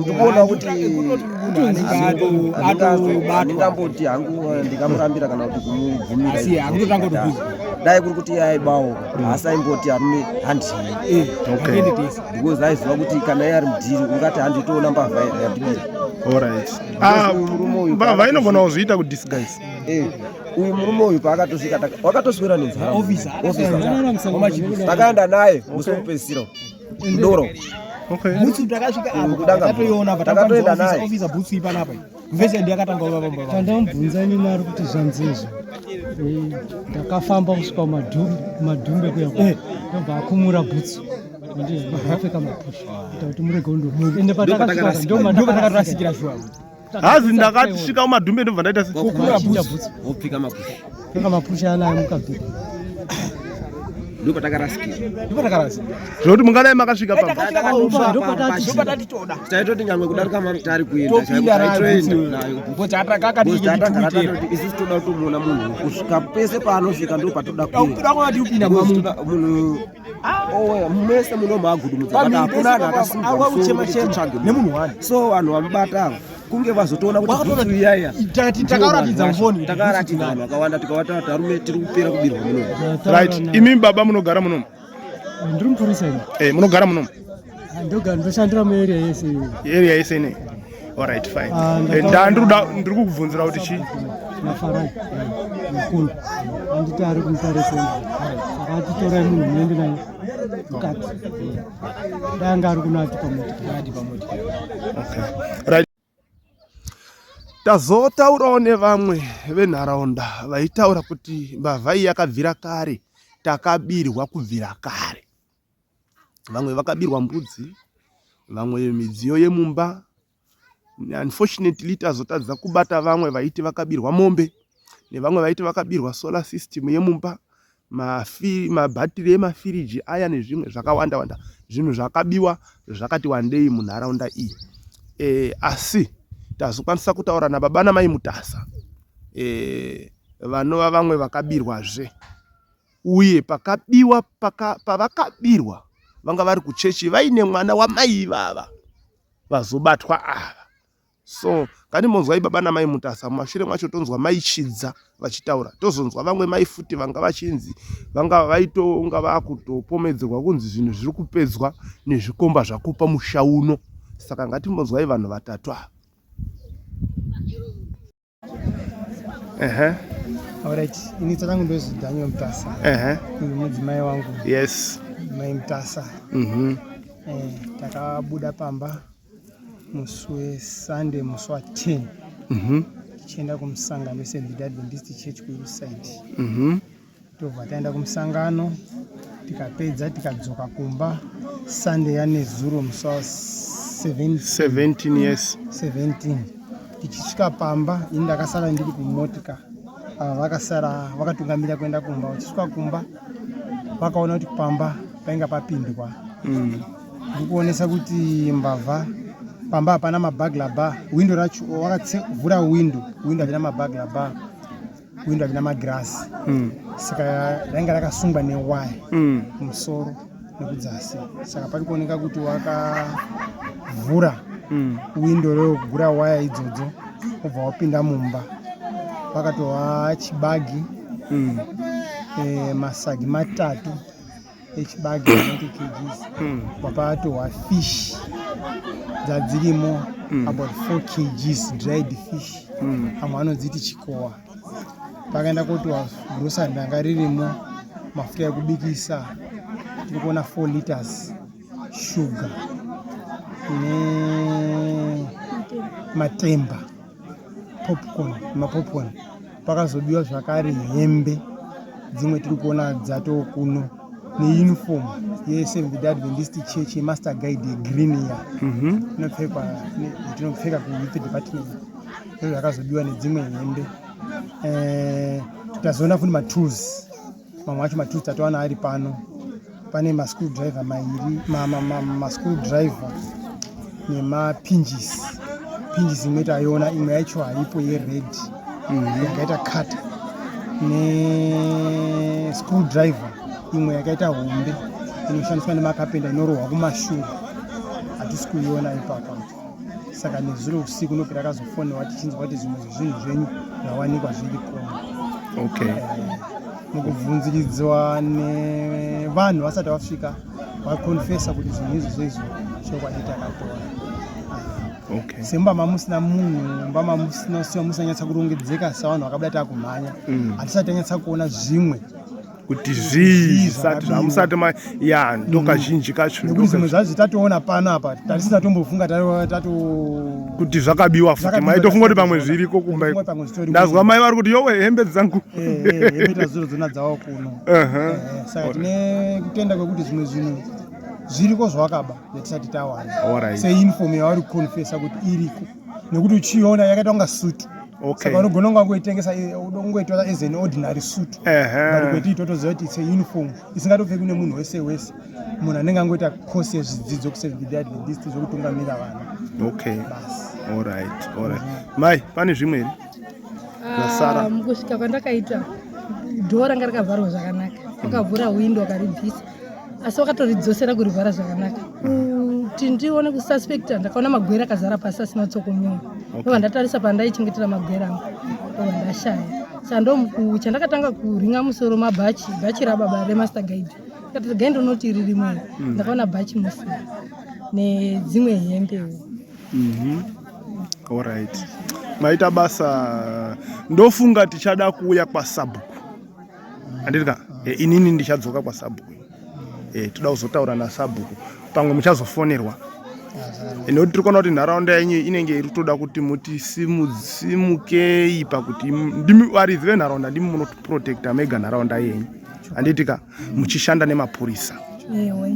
ndikuona kuti andingamboti hangu eh, ndikamurambira kana kuti kumubvumira dai kuri kuti aibawo haasi aimboti arume handii because aiziva kuti kana iye ari mudhiri ungati handitoona mbavha yandibira ah, mbavha inogona kuzviita kudisguise eh, uyu murume uyu paakatosvika wakatoswera nenzara takaenda naye musi wekupedzisira kudoro okay butsu takasvika apo kudanga toiona but takatoenda naye officer butsu ipa napa mvese ndiye akatanga kuva vamwe vanhu ndambunza ni mari kuti zvanzi izvo eh, ndakafamba kusvika madhumbe madhumbe kuya kwa eh. ndobva akumura butsu ndizvakapfeka mapusha kuti murege undomuka ende patakasvika ndomba ndakarasikira shuwa Hazi ndakati svika kumadhumbe ndobva ndaita seopfika mapusha pfeka mapusha anayo mukabhika ndipo takarasika ndipo takarasika zvekuti mungadai makasvika papatatitoda taitoti nyangwe kudarika mamitari kuendaaisu toda kutomuona munhu kusvika pese paanosvika ndo patoda kuenda munhu mese munomhagudumudzaaauchemachemanemunhu wani so vanhu vamubata ava kunge vazotoona kutiiyayatakaratidzavanhu vakawanda tikavata tarume tiri kupera kubirwa munomu right imi baba munogara munomu ndiri mupurisa eh, munogara munomu Ah, ndogara ndoshandira muarea yese area yese ne alright fine ah, eh, ndandiruda ndiri kukubvunzira kuti chii mafarai mukulu anditi ari kumutarisa saka atitorai munhu muende naye mukati danga ari kuno ati pamotikadi pamotikadi Tazotaurawo nevamwe venharaunda vaitaura kuti mbavha iyi yakabvira kare, takabirwa kubvira kare. Vamwe vakabirwa mbudzi, vamwe midziyo yemumba. Unfortunately tazotadza kubata vamwe vaiti vakabirwa mombe nevamwe vaiti vakabirwa solar system yemumba. mabhatiri emafiriji aya nezvimwe zvakawanda wanda zvinhu zvakabiwa zvakati wandei munharaunda iyi e, asi tazokwanisa kutaura nababa namai mutasa e, vanova vamwe vakabirwazve uye pakabiwa paka, pavakabirwa vanga vari kuchechi vaine mwana wamai ivava vazobatwa ava so kani monzwai baba namai mutasa mumashure mwacho tonzwa mai chidza vachitaura tozonzwa vamwe mai futi vanga vachinzi vanga vaitonga vakutopomedzerwa kunzi zvinhu zviri kupedzwa nezvikomba zvakupa musha uno saka ngatimbonzwai vanhu vatatu ava Ehe. Alright, ini zita rangu ndozi Daniel Mtasa. Ehe. Uyu mudzimai wangu. Yes. Mai Mtasa. Mhm. Mm eh, takabuda pamba musi weSunday musi wa 10. Mhm. Mm tichienda kumusangano weSeventh Adventist Church kuInside. Mhm. Mm tobva taenda kumusangano tikapedza tikadzoka kumba sunday yanezuro musi wa 17 yes 17 tichisvika pamba ini ndakasara ndiri kumotika ava vakasara vakatungamira kuenda kumba vachisvika kumba vakaona kuti pamba painga papindwa mm. ndikuonesa kuti mbavha pamba hapana mabagla ba windo racho vakatsevhura windo windo havina mabagla ba windo havina magirasi mm. saka rainge rakasungwa newaya mm. musoro nekudzasi saka pari kuoneka kuti wakavhura mm. windo reokugura waya idzodzo obva wapinda mumba pakatova chibagi mm. e, masagi matatu echibage 90 kgs mm. wapatohwa fish dzadzirimo mm. about 4 kgs dried fish mm. amwe anodziti chikowa pakaenda kotiwa grosa ndanga ririmo mafuta ekubikisa tiri kuona 4 liters shuga nematemba popcorn mapopcorn pakazobiwa zvakare hembe dzimwe tiri kuona dzatoo kuno neuniform yeseventh day adventist church yemaster guide yegreen ya mhm. inopfekwa tinopfeka kuyouth department izvo zvakazobiwa nedzimwe hembe eh, tazoona futi matools mamwe acho matools tatowana ari pano pane maschool driver mairi maschool driver nemapinjisi pinjisi imwe taiona imwe yacho haipo yered mhm. yakaita cut neschool driver imwe yakaita hombe inoshandiswa nemakapenda inorohwa kumashura hatisi kuiona ipapa saka nezuro usiku ndoki rakazofonewa tichinzwa kuti zvimwe zvezvinhu zvenyu zvawanikwa zviri koma okay. Eh, mukubvunziridzwa nevanhu vasati vasvika vakonfesa kuti zvinhu izvi zveizvo chokwadi takatora okay. semba mamusina munhu mba mamusina siwa musanyatsa kurongedzeka savanhu vakabada takumhanya mm. hatisati mm. tanyatsa kuona zvimwe kuti zvii zvisati zvamusati ma ya ndokazhinji kacho nekuti zvimwe zvazvi tatoona pano apa tatisina tombofunga tato kuti zvakabiwa futi maitofunga kuti pamwe zviriko kumba iko ndazwa mai vari kuti yowe hembe dzangu eh, eh, hembe tazuro dzona dzawa kuno eh, saka tine kutenda kwekuti zvimwe zvinhu zviriko zvawakaba yatisati tawana seinfom yavari kuconfesa kuti iriko nekuti uchiona yakaita kunga suit okay. saka unogona kunga kungoitengesa unongoitora as an ordinary suit uh -huh. but kweti itotoziva kuti it's a uniform isingatopfeki kune munhu wese wese munhu anenge angoita course yezvidzidzo kusedidadist zvekutungamira vana okay allright allright mai pane zvimwe here zvasara ah, mukusvika kwandakaita dhoo ranga rakavharwa zvakanaka akavhura windo akaribvisa asi wakatoridzoserq kurivhara zvakanaka kuti ndione kususpecta ndakaona magwere akazara pasi asina kutsokonyowa ndova ndatarisa pandaichengetera magwere angu ndova ndashaya sandomukuu chandakatanga kuringa musoro mabhachi bhachi rababa remaster guide ndikati gai ndonoti riri mwana mm. ndakaona bhachi musi nedzimwe hembewo mhm. orit maita basa ndofunga tichada kuuya kwasabhuku handiti ka e, inini ndichadzoka kwasabhuku e, toda kuzotaura nasabhuku pamwe muchazofonerwa nekuti tiri kuona kuti nharaunda yenyu inenge iri toda kuti mutisimukei pakuti ndimi varidzi venharaunda ndimi munoprotecta mega nharaunda yenyu handiti ka muchishanda nemapurisa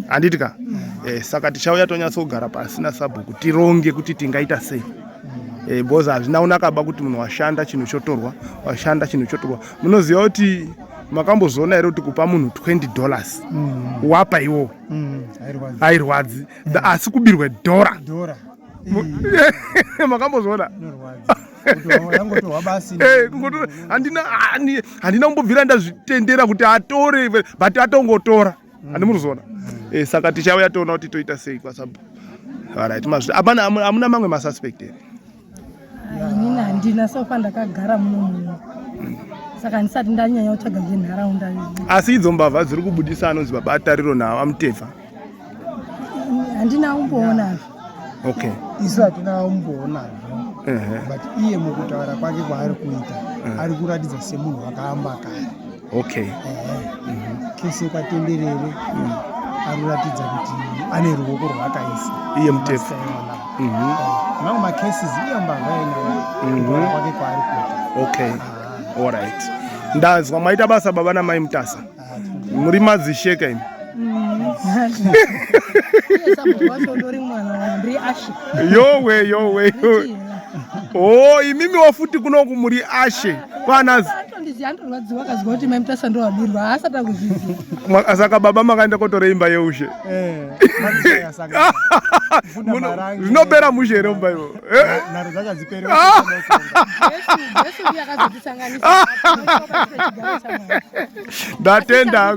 handiti ka mm. eh, saka tichauya tonyatsogara pasi nasabhuku tironge kuti tingaita sei mm. eh, because hazvina kunakaba kuti munhu washanda chinhu chotorwa washanda chinhu chotorwa munoziva kuti makambozoona here kuti kupa munhu 20 dollars mm. wapa iwo mm. hairwadzi mm. asi kubirwe dhora makambozoona eh, handina kumbobvira ndazvitendera kuti atore but atongotora mm. handi murizoona mm. eh, saka tichauya toona kuti toita sei kwasabu arit amuna mamwe masuspect here inini handina so far ndakagara muno muno saka handisati ndanyanya kutsvaga zvenharaunda izvi asi idzo mbavha dziri kubudisa anonzi baba atariro navo amutevha handina kumboonazvo okay isu hatina kumboonazvo but iye mukutaura kwake kwaari kuita ari kuratidza semunhu wakaamba kare okay kese kwatenderere mm. anoratidza kuti ane ruoko rwakaisa iye mutepfu mm-hmm. mamwe macases iye mbavha yenayo mm-hmm. kwake kwaari kuti okay ah. allright ndazwa maita basa baba namai mutasa ah, muri madzisheka imi yowe yowe o oh, imimiwo futi kunoku muri ashe kwanazi ah, saka baba makaenda kotora imba yeushe eh, zvinopera mushe here mumba ivo ndatenda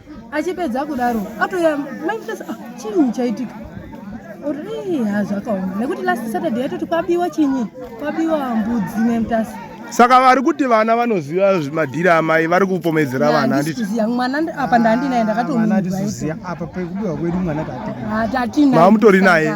achipedza kudaro atouya mai mutasa ah, chinyi chaitika uri ha zvakaoma nekuti last saturday yatoti kwabiwa chinyi kwabiwa mbudzi mai mutasa saka vari kuti vana vanoziva madhiri amai vari kupomedzera vana handitiziva mwana apa ndandinaye ndakatomuziva apa pekubiwa kwedu mwana tatina ah, tatina mamutori naye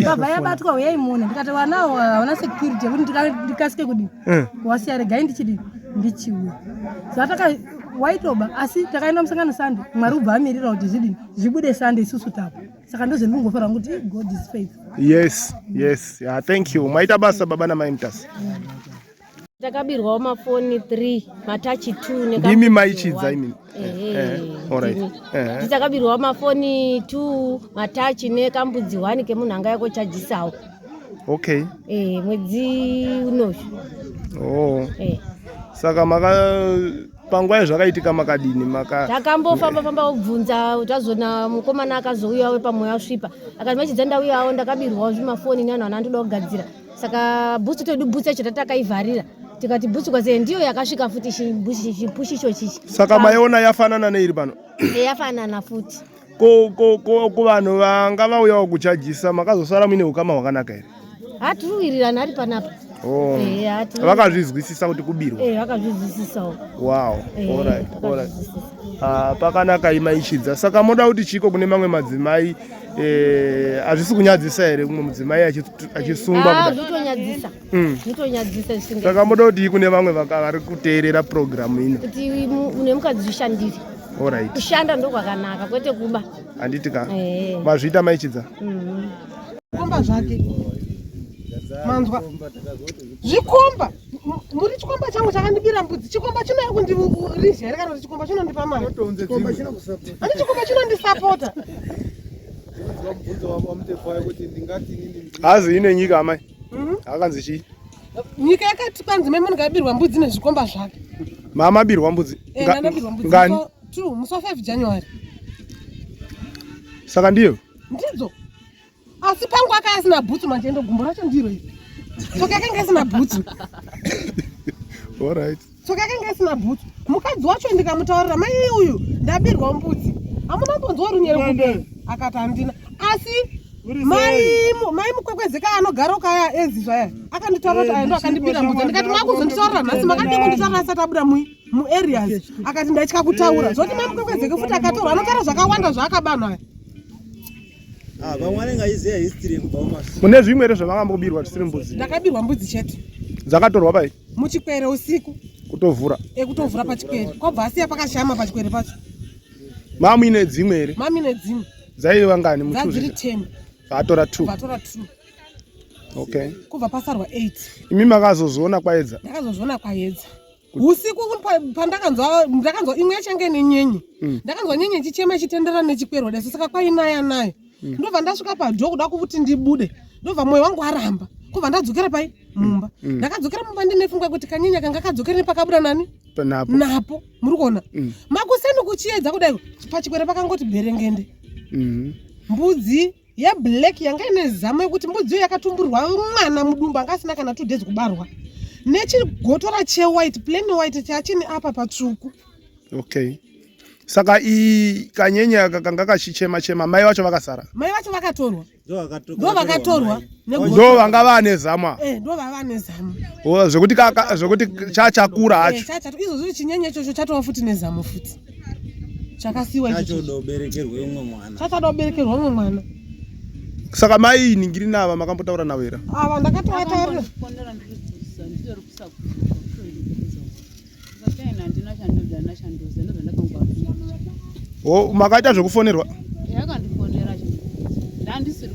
mbavha yabatwa uyai muone ndikati vana avo havana security yekuti ndikasike kudii eh. wasiya regai ndichidii ndichiuya zvataka waitoba asi takaenda musangano sunday mwari ubva amirira kuti zvidini zvibude sunday isusu tapa saka ndozvendingofarwa kuti god is faith yes yes yeah, thank you maita basa baba namai mutasa mm. Takabirwawo mafoni 3 matachi 2 neka Ndimi maichidza imi. Eh, eh, all right. Eh. Tichakabirwawo mafoni 2 matachi nekambudzi 1 kemunhu anga yako chajisawo. Okay. Eh, mwedzi unoyu. Oh. Eh. Saka maka panguva yezvakaitika makadini maka takambofamba famba obvunza tazoona mukomana akazouyawo pamwe asvipa akati machidza ndauyawo ndakabirwawo zvimafoni nevanhu vanandoda kugadzira saka bhutsu todu bhutsu yacho tatakaivharira tikati bhutsu kwase ndiyo yakasvika futi chipushi icho chichi saka maiona yafanana neiri pano eh, yafanana futi kuvanhu vanga vauyawo kuchajisa makazosara muine ukama hwakanaka here hatiruwirirani ari panapa oh. eh, vakazvizwisisa kuti kubirwa eh, vakazvizwisisawo wow ah, pakanaka imaichidza saka moda kuti chiiko kune mamwe madzimai Eh, hazvisi kunyadzisa here kumwe mudzimai achisungwa ah, hmm. saka moda kuti kune vamwe vari kuteerera purogiramu ino kuti une mukadzi zvishandiri orit kushanda ndokwakanaka kwete kuba handiti ka eh. mazviita maichidza mm-hmm. komba zvake manzwa zvikomba muri chikomba changu chakandibira mbudzi chikomba chinouya kundirizha here kana kuti chikomba chinondipa mari ani chikomba chinondisapota hazi ine nyika amai mhm. akanzi chii nyika yakati kwanzi mai munhu ngabirwa mbudzi nezvikomba zvake mama abirwa mbudzi eh, ngani true musi wa 5 january saka ndiyo ndidzo asi pangu akaya asina bhutsu manje ndo gumbo racho ndiro iri soki akanga asina bhutsu orit soki akanga asina bhutsu mukadzi wacho ndikamutaurira mai uyu ndabirwa mbudzi hamuna mbonzwa runyere kude akati handina asi mai mukwekwezeka anogara ukaya ezi zvaya akanditaura kuti eh, aendo akandibira mbudzi ndikati makuzonditaurira nhasi makadii kunditaurira asati abuda mui muareas akati ndaitya kutaura eh, zvoti mai mukwekwezeke futi akatorwa anotaura zvakawanda zvaakabanhaya Ah, vamwe vanenge aiziva history yekubva kumashure mune zvimwe here zvavangambobirwa zvisiri mbudzi ndakabirwa mbudzi chete dzakatorwa pai muchikwere usiku kutovhura ekutovhura eh, pachikwere kwabva asiya pakashama pachikwere pacho mamu ine dzimwe here mamu ine dzimwe dzaiva ngani mudziri ten vaatora two vaatora two okay kubva pasarwa eight imi makazozoona kwaedza ndakazozviona kwaedza usiku pandakanzwa ndakanzwa imwe yachange nenyenye mm. ndakanzwa nyenye chichema chitendera nechikwerwa deso saka kwainaya nayo mm. ndobva ndasvika padho kuda kuti ndibude ndobva mwoyo wangu aramba kubva ndadzokera pai mumba mm. mm. ndakadzokera mumba ndine fungwa kuti kanyenya kanga kadzokera nepakabuda nani napo, napo. muri kuona mm. makuseni kuchiedza kudai pachikwere pakangoti bherengende mm. mbudzi yeblack yanga ine zama yekuti mbudziyo yakatumburwa mwana mudumbu anga asina kana two days kubarwa nechigotora chewhite plain white chachini apa patsvuku okay saka i kanyenya kakanga kachichema chema mai vacho vakasara mai vacho vakatorwa ndo vakatorwa ndo vanga vane zama eh, ndo vava nezama zvekuti zvekuti chachakura eh, hacho izvozvi chinyenye ichocho chatova futi nezamo futi chakasiwa chachoda uberekerwe umwe mwana chachoda uberekerwe umwe mwana saka mai ningiri nava makambotaura navo here ava ndakatoataura o makaita zvekufonerwa yakandifonera ndandisiri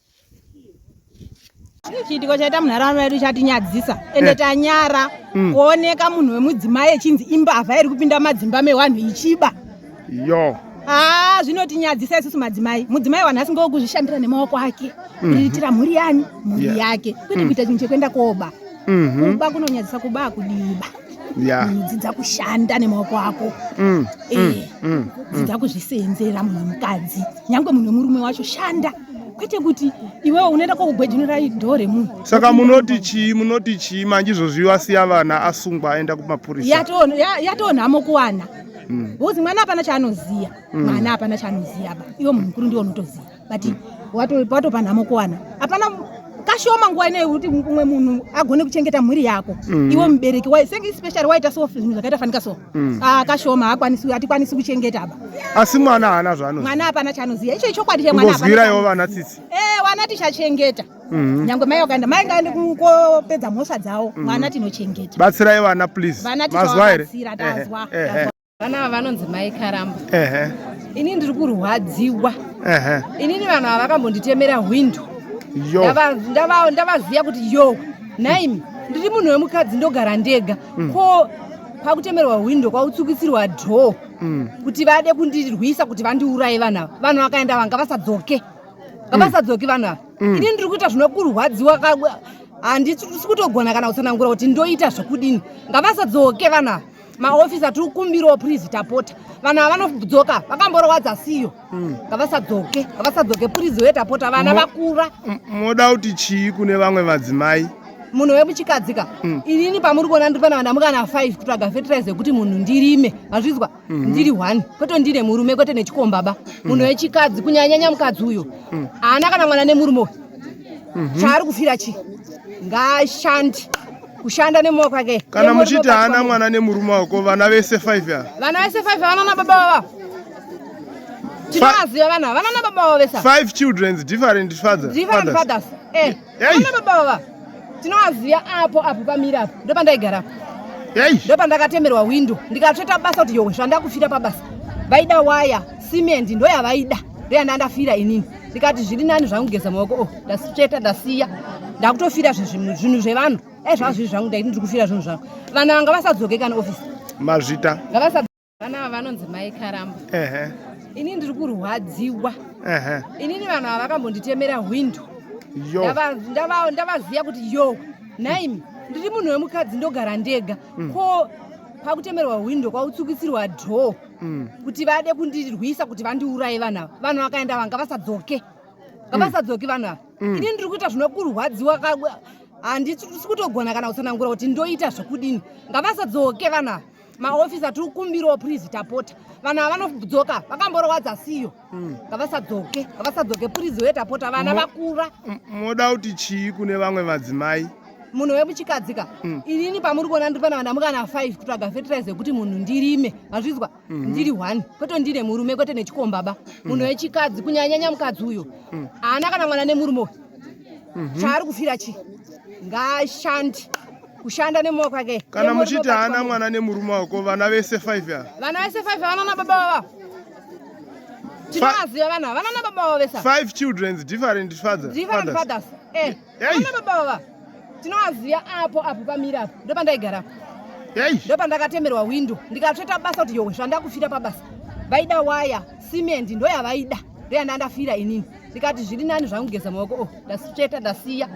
chiitiko chaita munharaunda yedu chatinyadzisa ende eh. tanyara hmm. kuoneka munhu wemudzimai echinzi imbavha iri kupinda madzimba mewanhu ichiba yo haa ah, zvinotinyadzisa isusu madzimai mudzimai wanhu asingawo kuzvishandira nemaoko ake mhm. kuitira mhuri yani mhuri yake kwete hmm. kuita chinhu chekuenda koba mhm. kuba kunonyadzisa kuba akudiba dzidza kushanda nemaoko ako hmm. eh, dzidza kuzviseenzera munhu wemukadzi nyange munhu wemurume wacho shanda kwete kuti iwewe unoenda kwakugwejunira idhoo remunhu saka munoti chii munoti chii manje izvozvi asiya vana asungwa aenda kumapurisa yatoonhamo kuwana mm. bcause mwana hapana chaanoziva mm. mwana hapana chaanoziva ba iwe munhu mukuru ndiwe unotoziva but watopa nhamo kuwana hapana kashoma nguva inoyi kuti umwe munhu agone kuchengeta mhuri yako mm. iwe mubereki especially waita so zvinhu zvakaita fanika so mm. ah, akashoma haakwanisi hatikwanisi kuchengeta apa asi mwana haana zvaano mwana hapana chaanoziva icho ichokwadi chemwanazwirayo vana tsitsi e eh, vana tichachengeta mm-hmm. nyange mai vakaenda mai ngaende kopedza mhosva dzavo mm-hmm. mwana tinochengeta batsirai vana please vana tichavabatsira tazwa vana ava vanonzi mai karamba ini ndiri kurwadziwa inini vanhu ava vakambonditemera hwindo ndavaziva kuti yo nhaimi ndiri munhu wemukadzi ndogara ndega mm. ko kwakutemerwa hwindo kwakutsukisirwa dhoo mm. kuti vade kundirwisa kuti vandiuraye vanhu ava vanhu vakaenda vanga vasadzoke ngavasadzoke mm. vanhu ava mm. ini ndiri kuita zvinokurwadziwa handisi kutogona kana kutsanangura kuti ndoita zvekudini ngavasadzoke vanhu ava maofisi atiri kumbirawo prizi tapota vanhu ava vanodzoka vakamborwadza siyo mm. ngavasadzoke ngavasadzoke purizi weta pota vana vakura moda kuti chii kune vamwe vadzimai munhu wemuchikadzi ka mm. inini pamuri kuona ndiri pana vana mukana five kutsvaga fertilize yekuti munhu ndirime mazvizwa mm-hmm. ndiri one kwete ndine murume kwete nechikomba ba mm. munhu wechikadzi kunyanyanya mukadzi uyo mm. haana kana mwana nemurume uyu mm-hmm. chaari kufira chii ngaashandi kushanda nemoyo kwake kana muchiti haana mwana nemurume wako vana vese 5 ya vana vese 5 vana na baba vava tinovaziva vana vana na baba vava vese 5 children different fathers different fathers eh vana baba vava tinovaziva apo apo pamira apo ndo pandaigara apo ndo pandakatemerwa window ndikatsveta basa kuti yowe zvandakufira pabasa vaida waya cement ndo yavaida ndo yandandafira inini ndikati zviri nani zvangu kugeza maoko o oh, ndasitsveta ndasiya ndakutofira zvinhu zvevanhu dai zvava zviri zvangu ndaiti ndiri kufira zvinhu zvangu vana vanga vasadzoke kana ofisi mazvita vana ava vanonzi mai karamba ini ndiri kurwadziwa inini vanhu ava vakambonditemera hwindo ndavaziva kuti yo nhaimi ndiri munhu wemukadzi ndogara ndega mm. ko pakutemerwa hwindo kwautsukisirwa dhoo mm. kuti vade kundirwisa kuti vandiuraye vanhu ava vanhu vakaenda vanga vasadzoke ngavasadzoki vanhu ava mm. ini ndiri kuita zvinokurwadziwa handisi kutogona kana kutsanangura kuti ndoita zvekudini ngavasadzoke vanhu ava maofisi atiri kumbirawo prizi tapota vanhu ava vanodzoka vakamborowadza siyo mm. ngavasadzoke ngavasadzoke purizi weta pota vana vakura moda kuti chii kune vamwe madzimai munhu wemuchikadzika mm. inini pamuri kuona ndiri pana vana mukana five kutsvaga fertilize yekuti munhu ndirime mazvizwa mm-hmm. ndiri one kwete ndine murume kwete nechikombaba mm. munhu wechikadzi kunyanyanya mukadzi uyo mm. haana kana mwana nemurume uyu mm-hmm. chaari kufira chii ngaashandi kushanda nemaoko ake kana muchiti haana mwana nemurume wako vana vese five ava vana vese five vana nababa vava tinovaziva vanhu ava vanana baba vavo vesa five children different fathers different fathers eh vanana baba vava tinovaziva apo apo pamira apo ndo pandaigara ndo pandakatemerwa windo ndikatsveta basa kuti yowe zvandakufira pabasa vaida waya cement ndo yavaida ndo yanda ndafira inini ndikati zviri nani zvangu kugeza maoko o oh, ndasveta ndasiya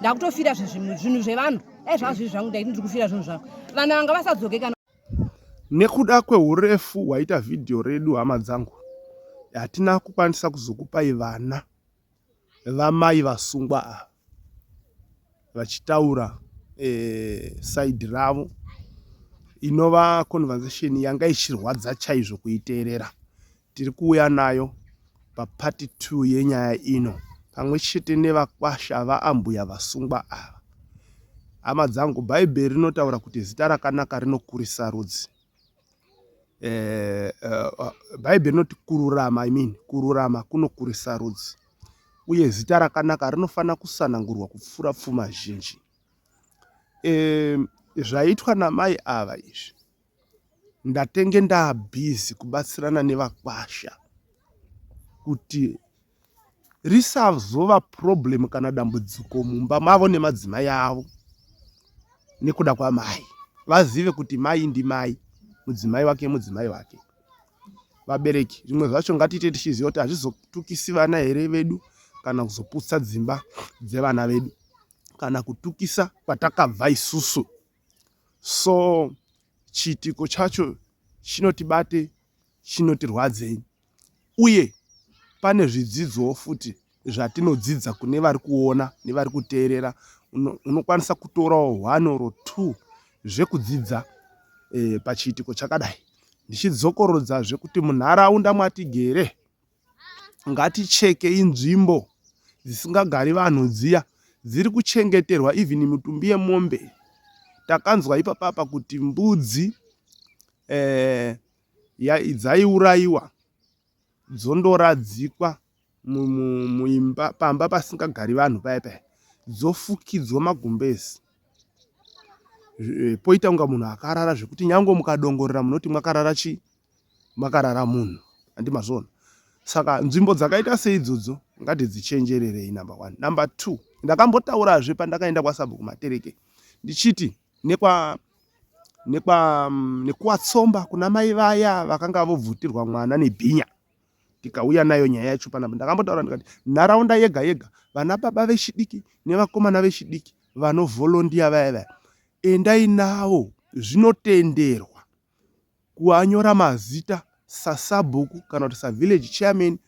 ndakutofira zvinhu zvevanhu dai zvazviri zvangu ndaiti ndiri kufira zvinhu zvangu vana vanga vasadzoke kana Nekuda kwehurefu hwaita vhidhiyo redu hama dzangu, hatina kukwanisa kuzokupai vana vamai vasungwa ava vachitaura eh, saidhi ravo inova conversation yanga ichirwadza chaizvo kuiteerera Tiri kuuya nayo papati 2 yenyaya ino pamwe chete nevakwasha vaambuya vasungwa ava. Hama dzangu, Bhaibheri rinotaura kuti zita rakanaka rinokurisa rudzi. Eh, eh, Bhaibheri rinoti kururama, I mean, kururama kunokurisa rudzi, uye zita rakanaka rinofanira kusanangurwa kupfuura pfuma zhinji. Eh, zvaitwa namai ava izvi Ndatenge ndaa busy kubatsirana nevakwasha kuti risazova problem kana dambudziko mumba mavo nemadzimai avo nekuda kwamai. Vazive kuti mai ndimai, mudzimai wake mudzimai wake. Vabereki zvimwe zvacho ngatiite tichiziva kuti hazvizotukisi vana here vedu kana kuzoputsa dzimba dzevana vedu kana kutukisa kwatakabva isusu. so chiitiko chacho chinotibate chinotirwadzei uye pane zvidzidzoo futi zvatinodzidza kune vari kuona nevari kuteerera unokwanisa kutorawo one or two zvekudzidza e, pachiitiko chakadai ndichidzokorodza zvekuti munharaunda mwatigere ngatichekei nzvimbo dzisingagari vanhu dziya dziri kuchengeterwa even mitumbi yemombe takanzwa ipapapa kuti mbudzi eh, dzaiurayiwa dzondoradzikwa muimba pamba pasingagari vanhu paya paya dzofukidzwa magumbezi eh, poita kunga munhu akarara zvekuti nyange mukadongorera munoti mwakarara chii makarara munhu handi mazvona saka nzvimbo dzakaita seidzodzo ngatidzichenjererei number one number two ndakambotaurazve pandakaenda kwasabhuku matereke ndichiti nekwa nekwa mm, nekuwatsomba kuna mai vaya vakanga vobvutirwa mwana nebhinya tikauya nayo nyaya yacho panapa ndakambotaura ndikati nharaunda yega yega vana baba vechidiki nevakomana vechidiki vanovolondiya vaya vaya endai nawo zvinotenderwa kuanyora mazita sasabhuku kana kuti savillage chairman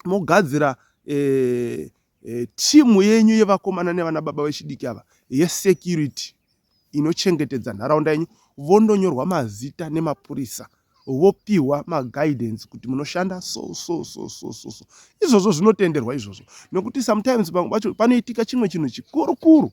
mogadzira eh, eh, timu yenyu yevakomana nevana baba vechidiki ava yesecurity inochengetedza nharaunda yenyu vondonyorwa mazita nemapurisa vopiwa maguidance kuti munoshanda so so so so so so izvozvo zvinotenderwa izvozvo nokuti sometimes vamwe vacho panoitika chimwe chinhu chikurukuru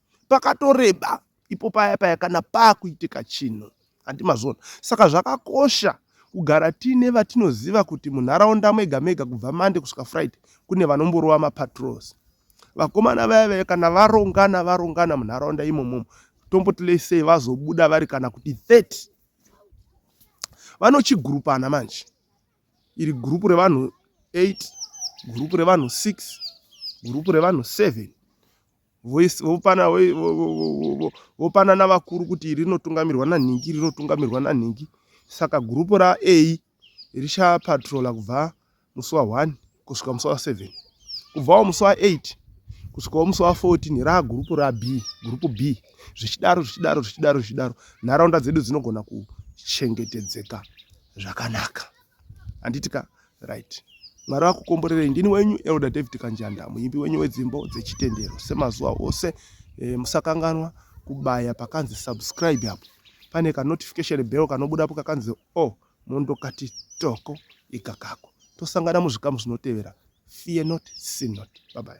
pakatoreba ipo paya paya kana pakuitika chinhu handi mazvona saka zvakakosha kugara tiine vatinoziva kuti munharaunda mega mega kubva mande kusvika friday kune vanomborova mapatrols vakomana vaya vaya kana varongana varongana munharaunda imomomo tomboti lesei vazobuda vari kana kuti 30 vanochigurupana manje iri gurupu revanhu 8 gurupu revanhu 6 gurupu revanhu 7 vopanana vakuru kuti iri rinotungamirwa nanhingi iri rinotungamirwa nanhingi saka gurupu ra a richapatrola kubva musi wa 1 kusvika musi wa 7 kubvawo musi wa 8 kusvikawo musi wa 14 raa gurupu ra b gurupu b zvichidaro zvichidaro zvichidaro zvichidaro nharaunda dzedu dzinogona kuchengetedzeka zvakanaka handiti ka right mwari vakukomborerei ndini wenyu elder david kanjanda muimbi wenyu wedzimbo dzechitendero semazuva ose e, musakanganwa kubaya pakanzi subscribe apo pane kanotification bell kanobudapo kakanzi o oh, mondokati toko ikakako tosangana muzvikamu zvinotevera fear not sin not babai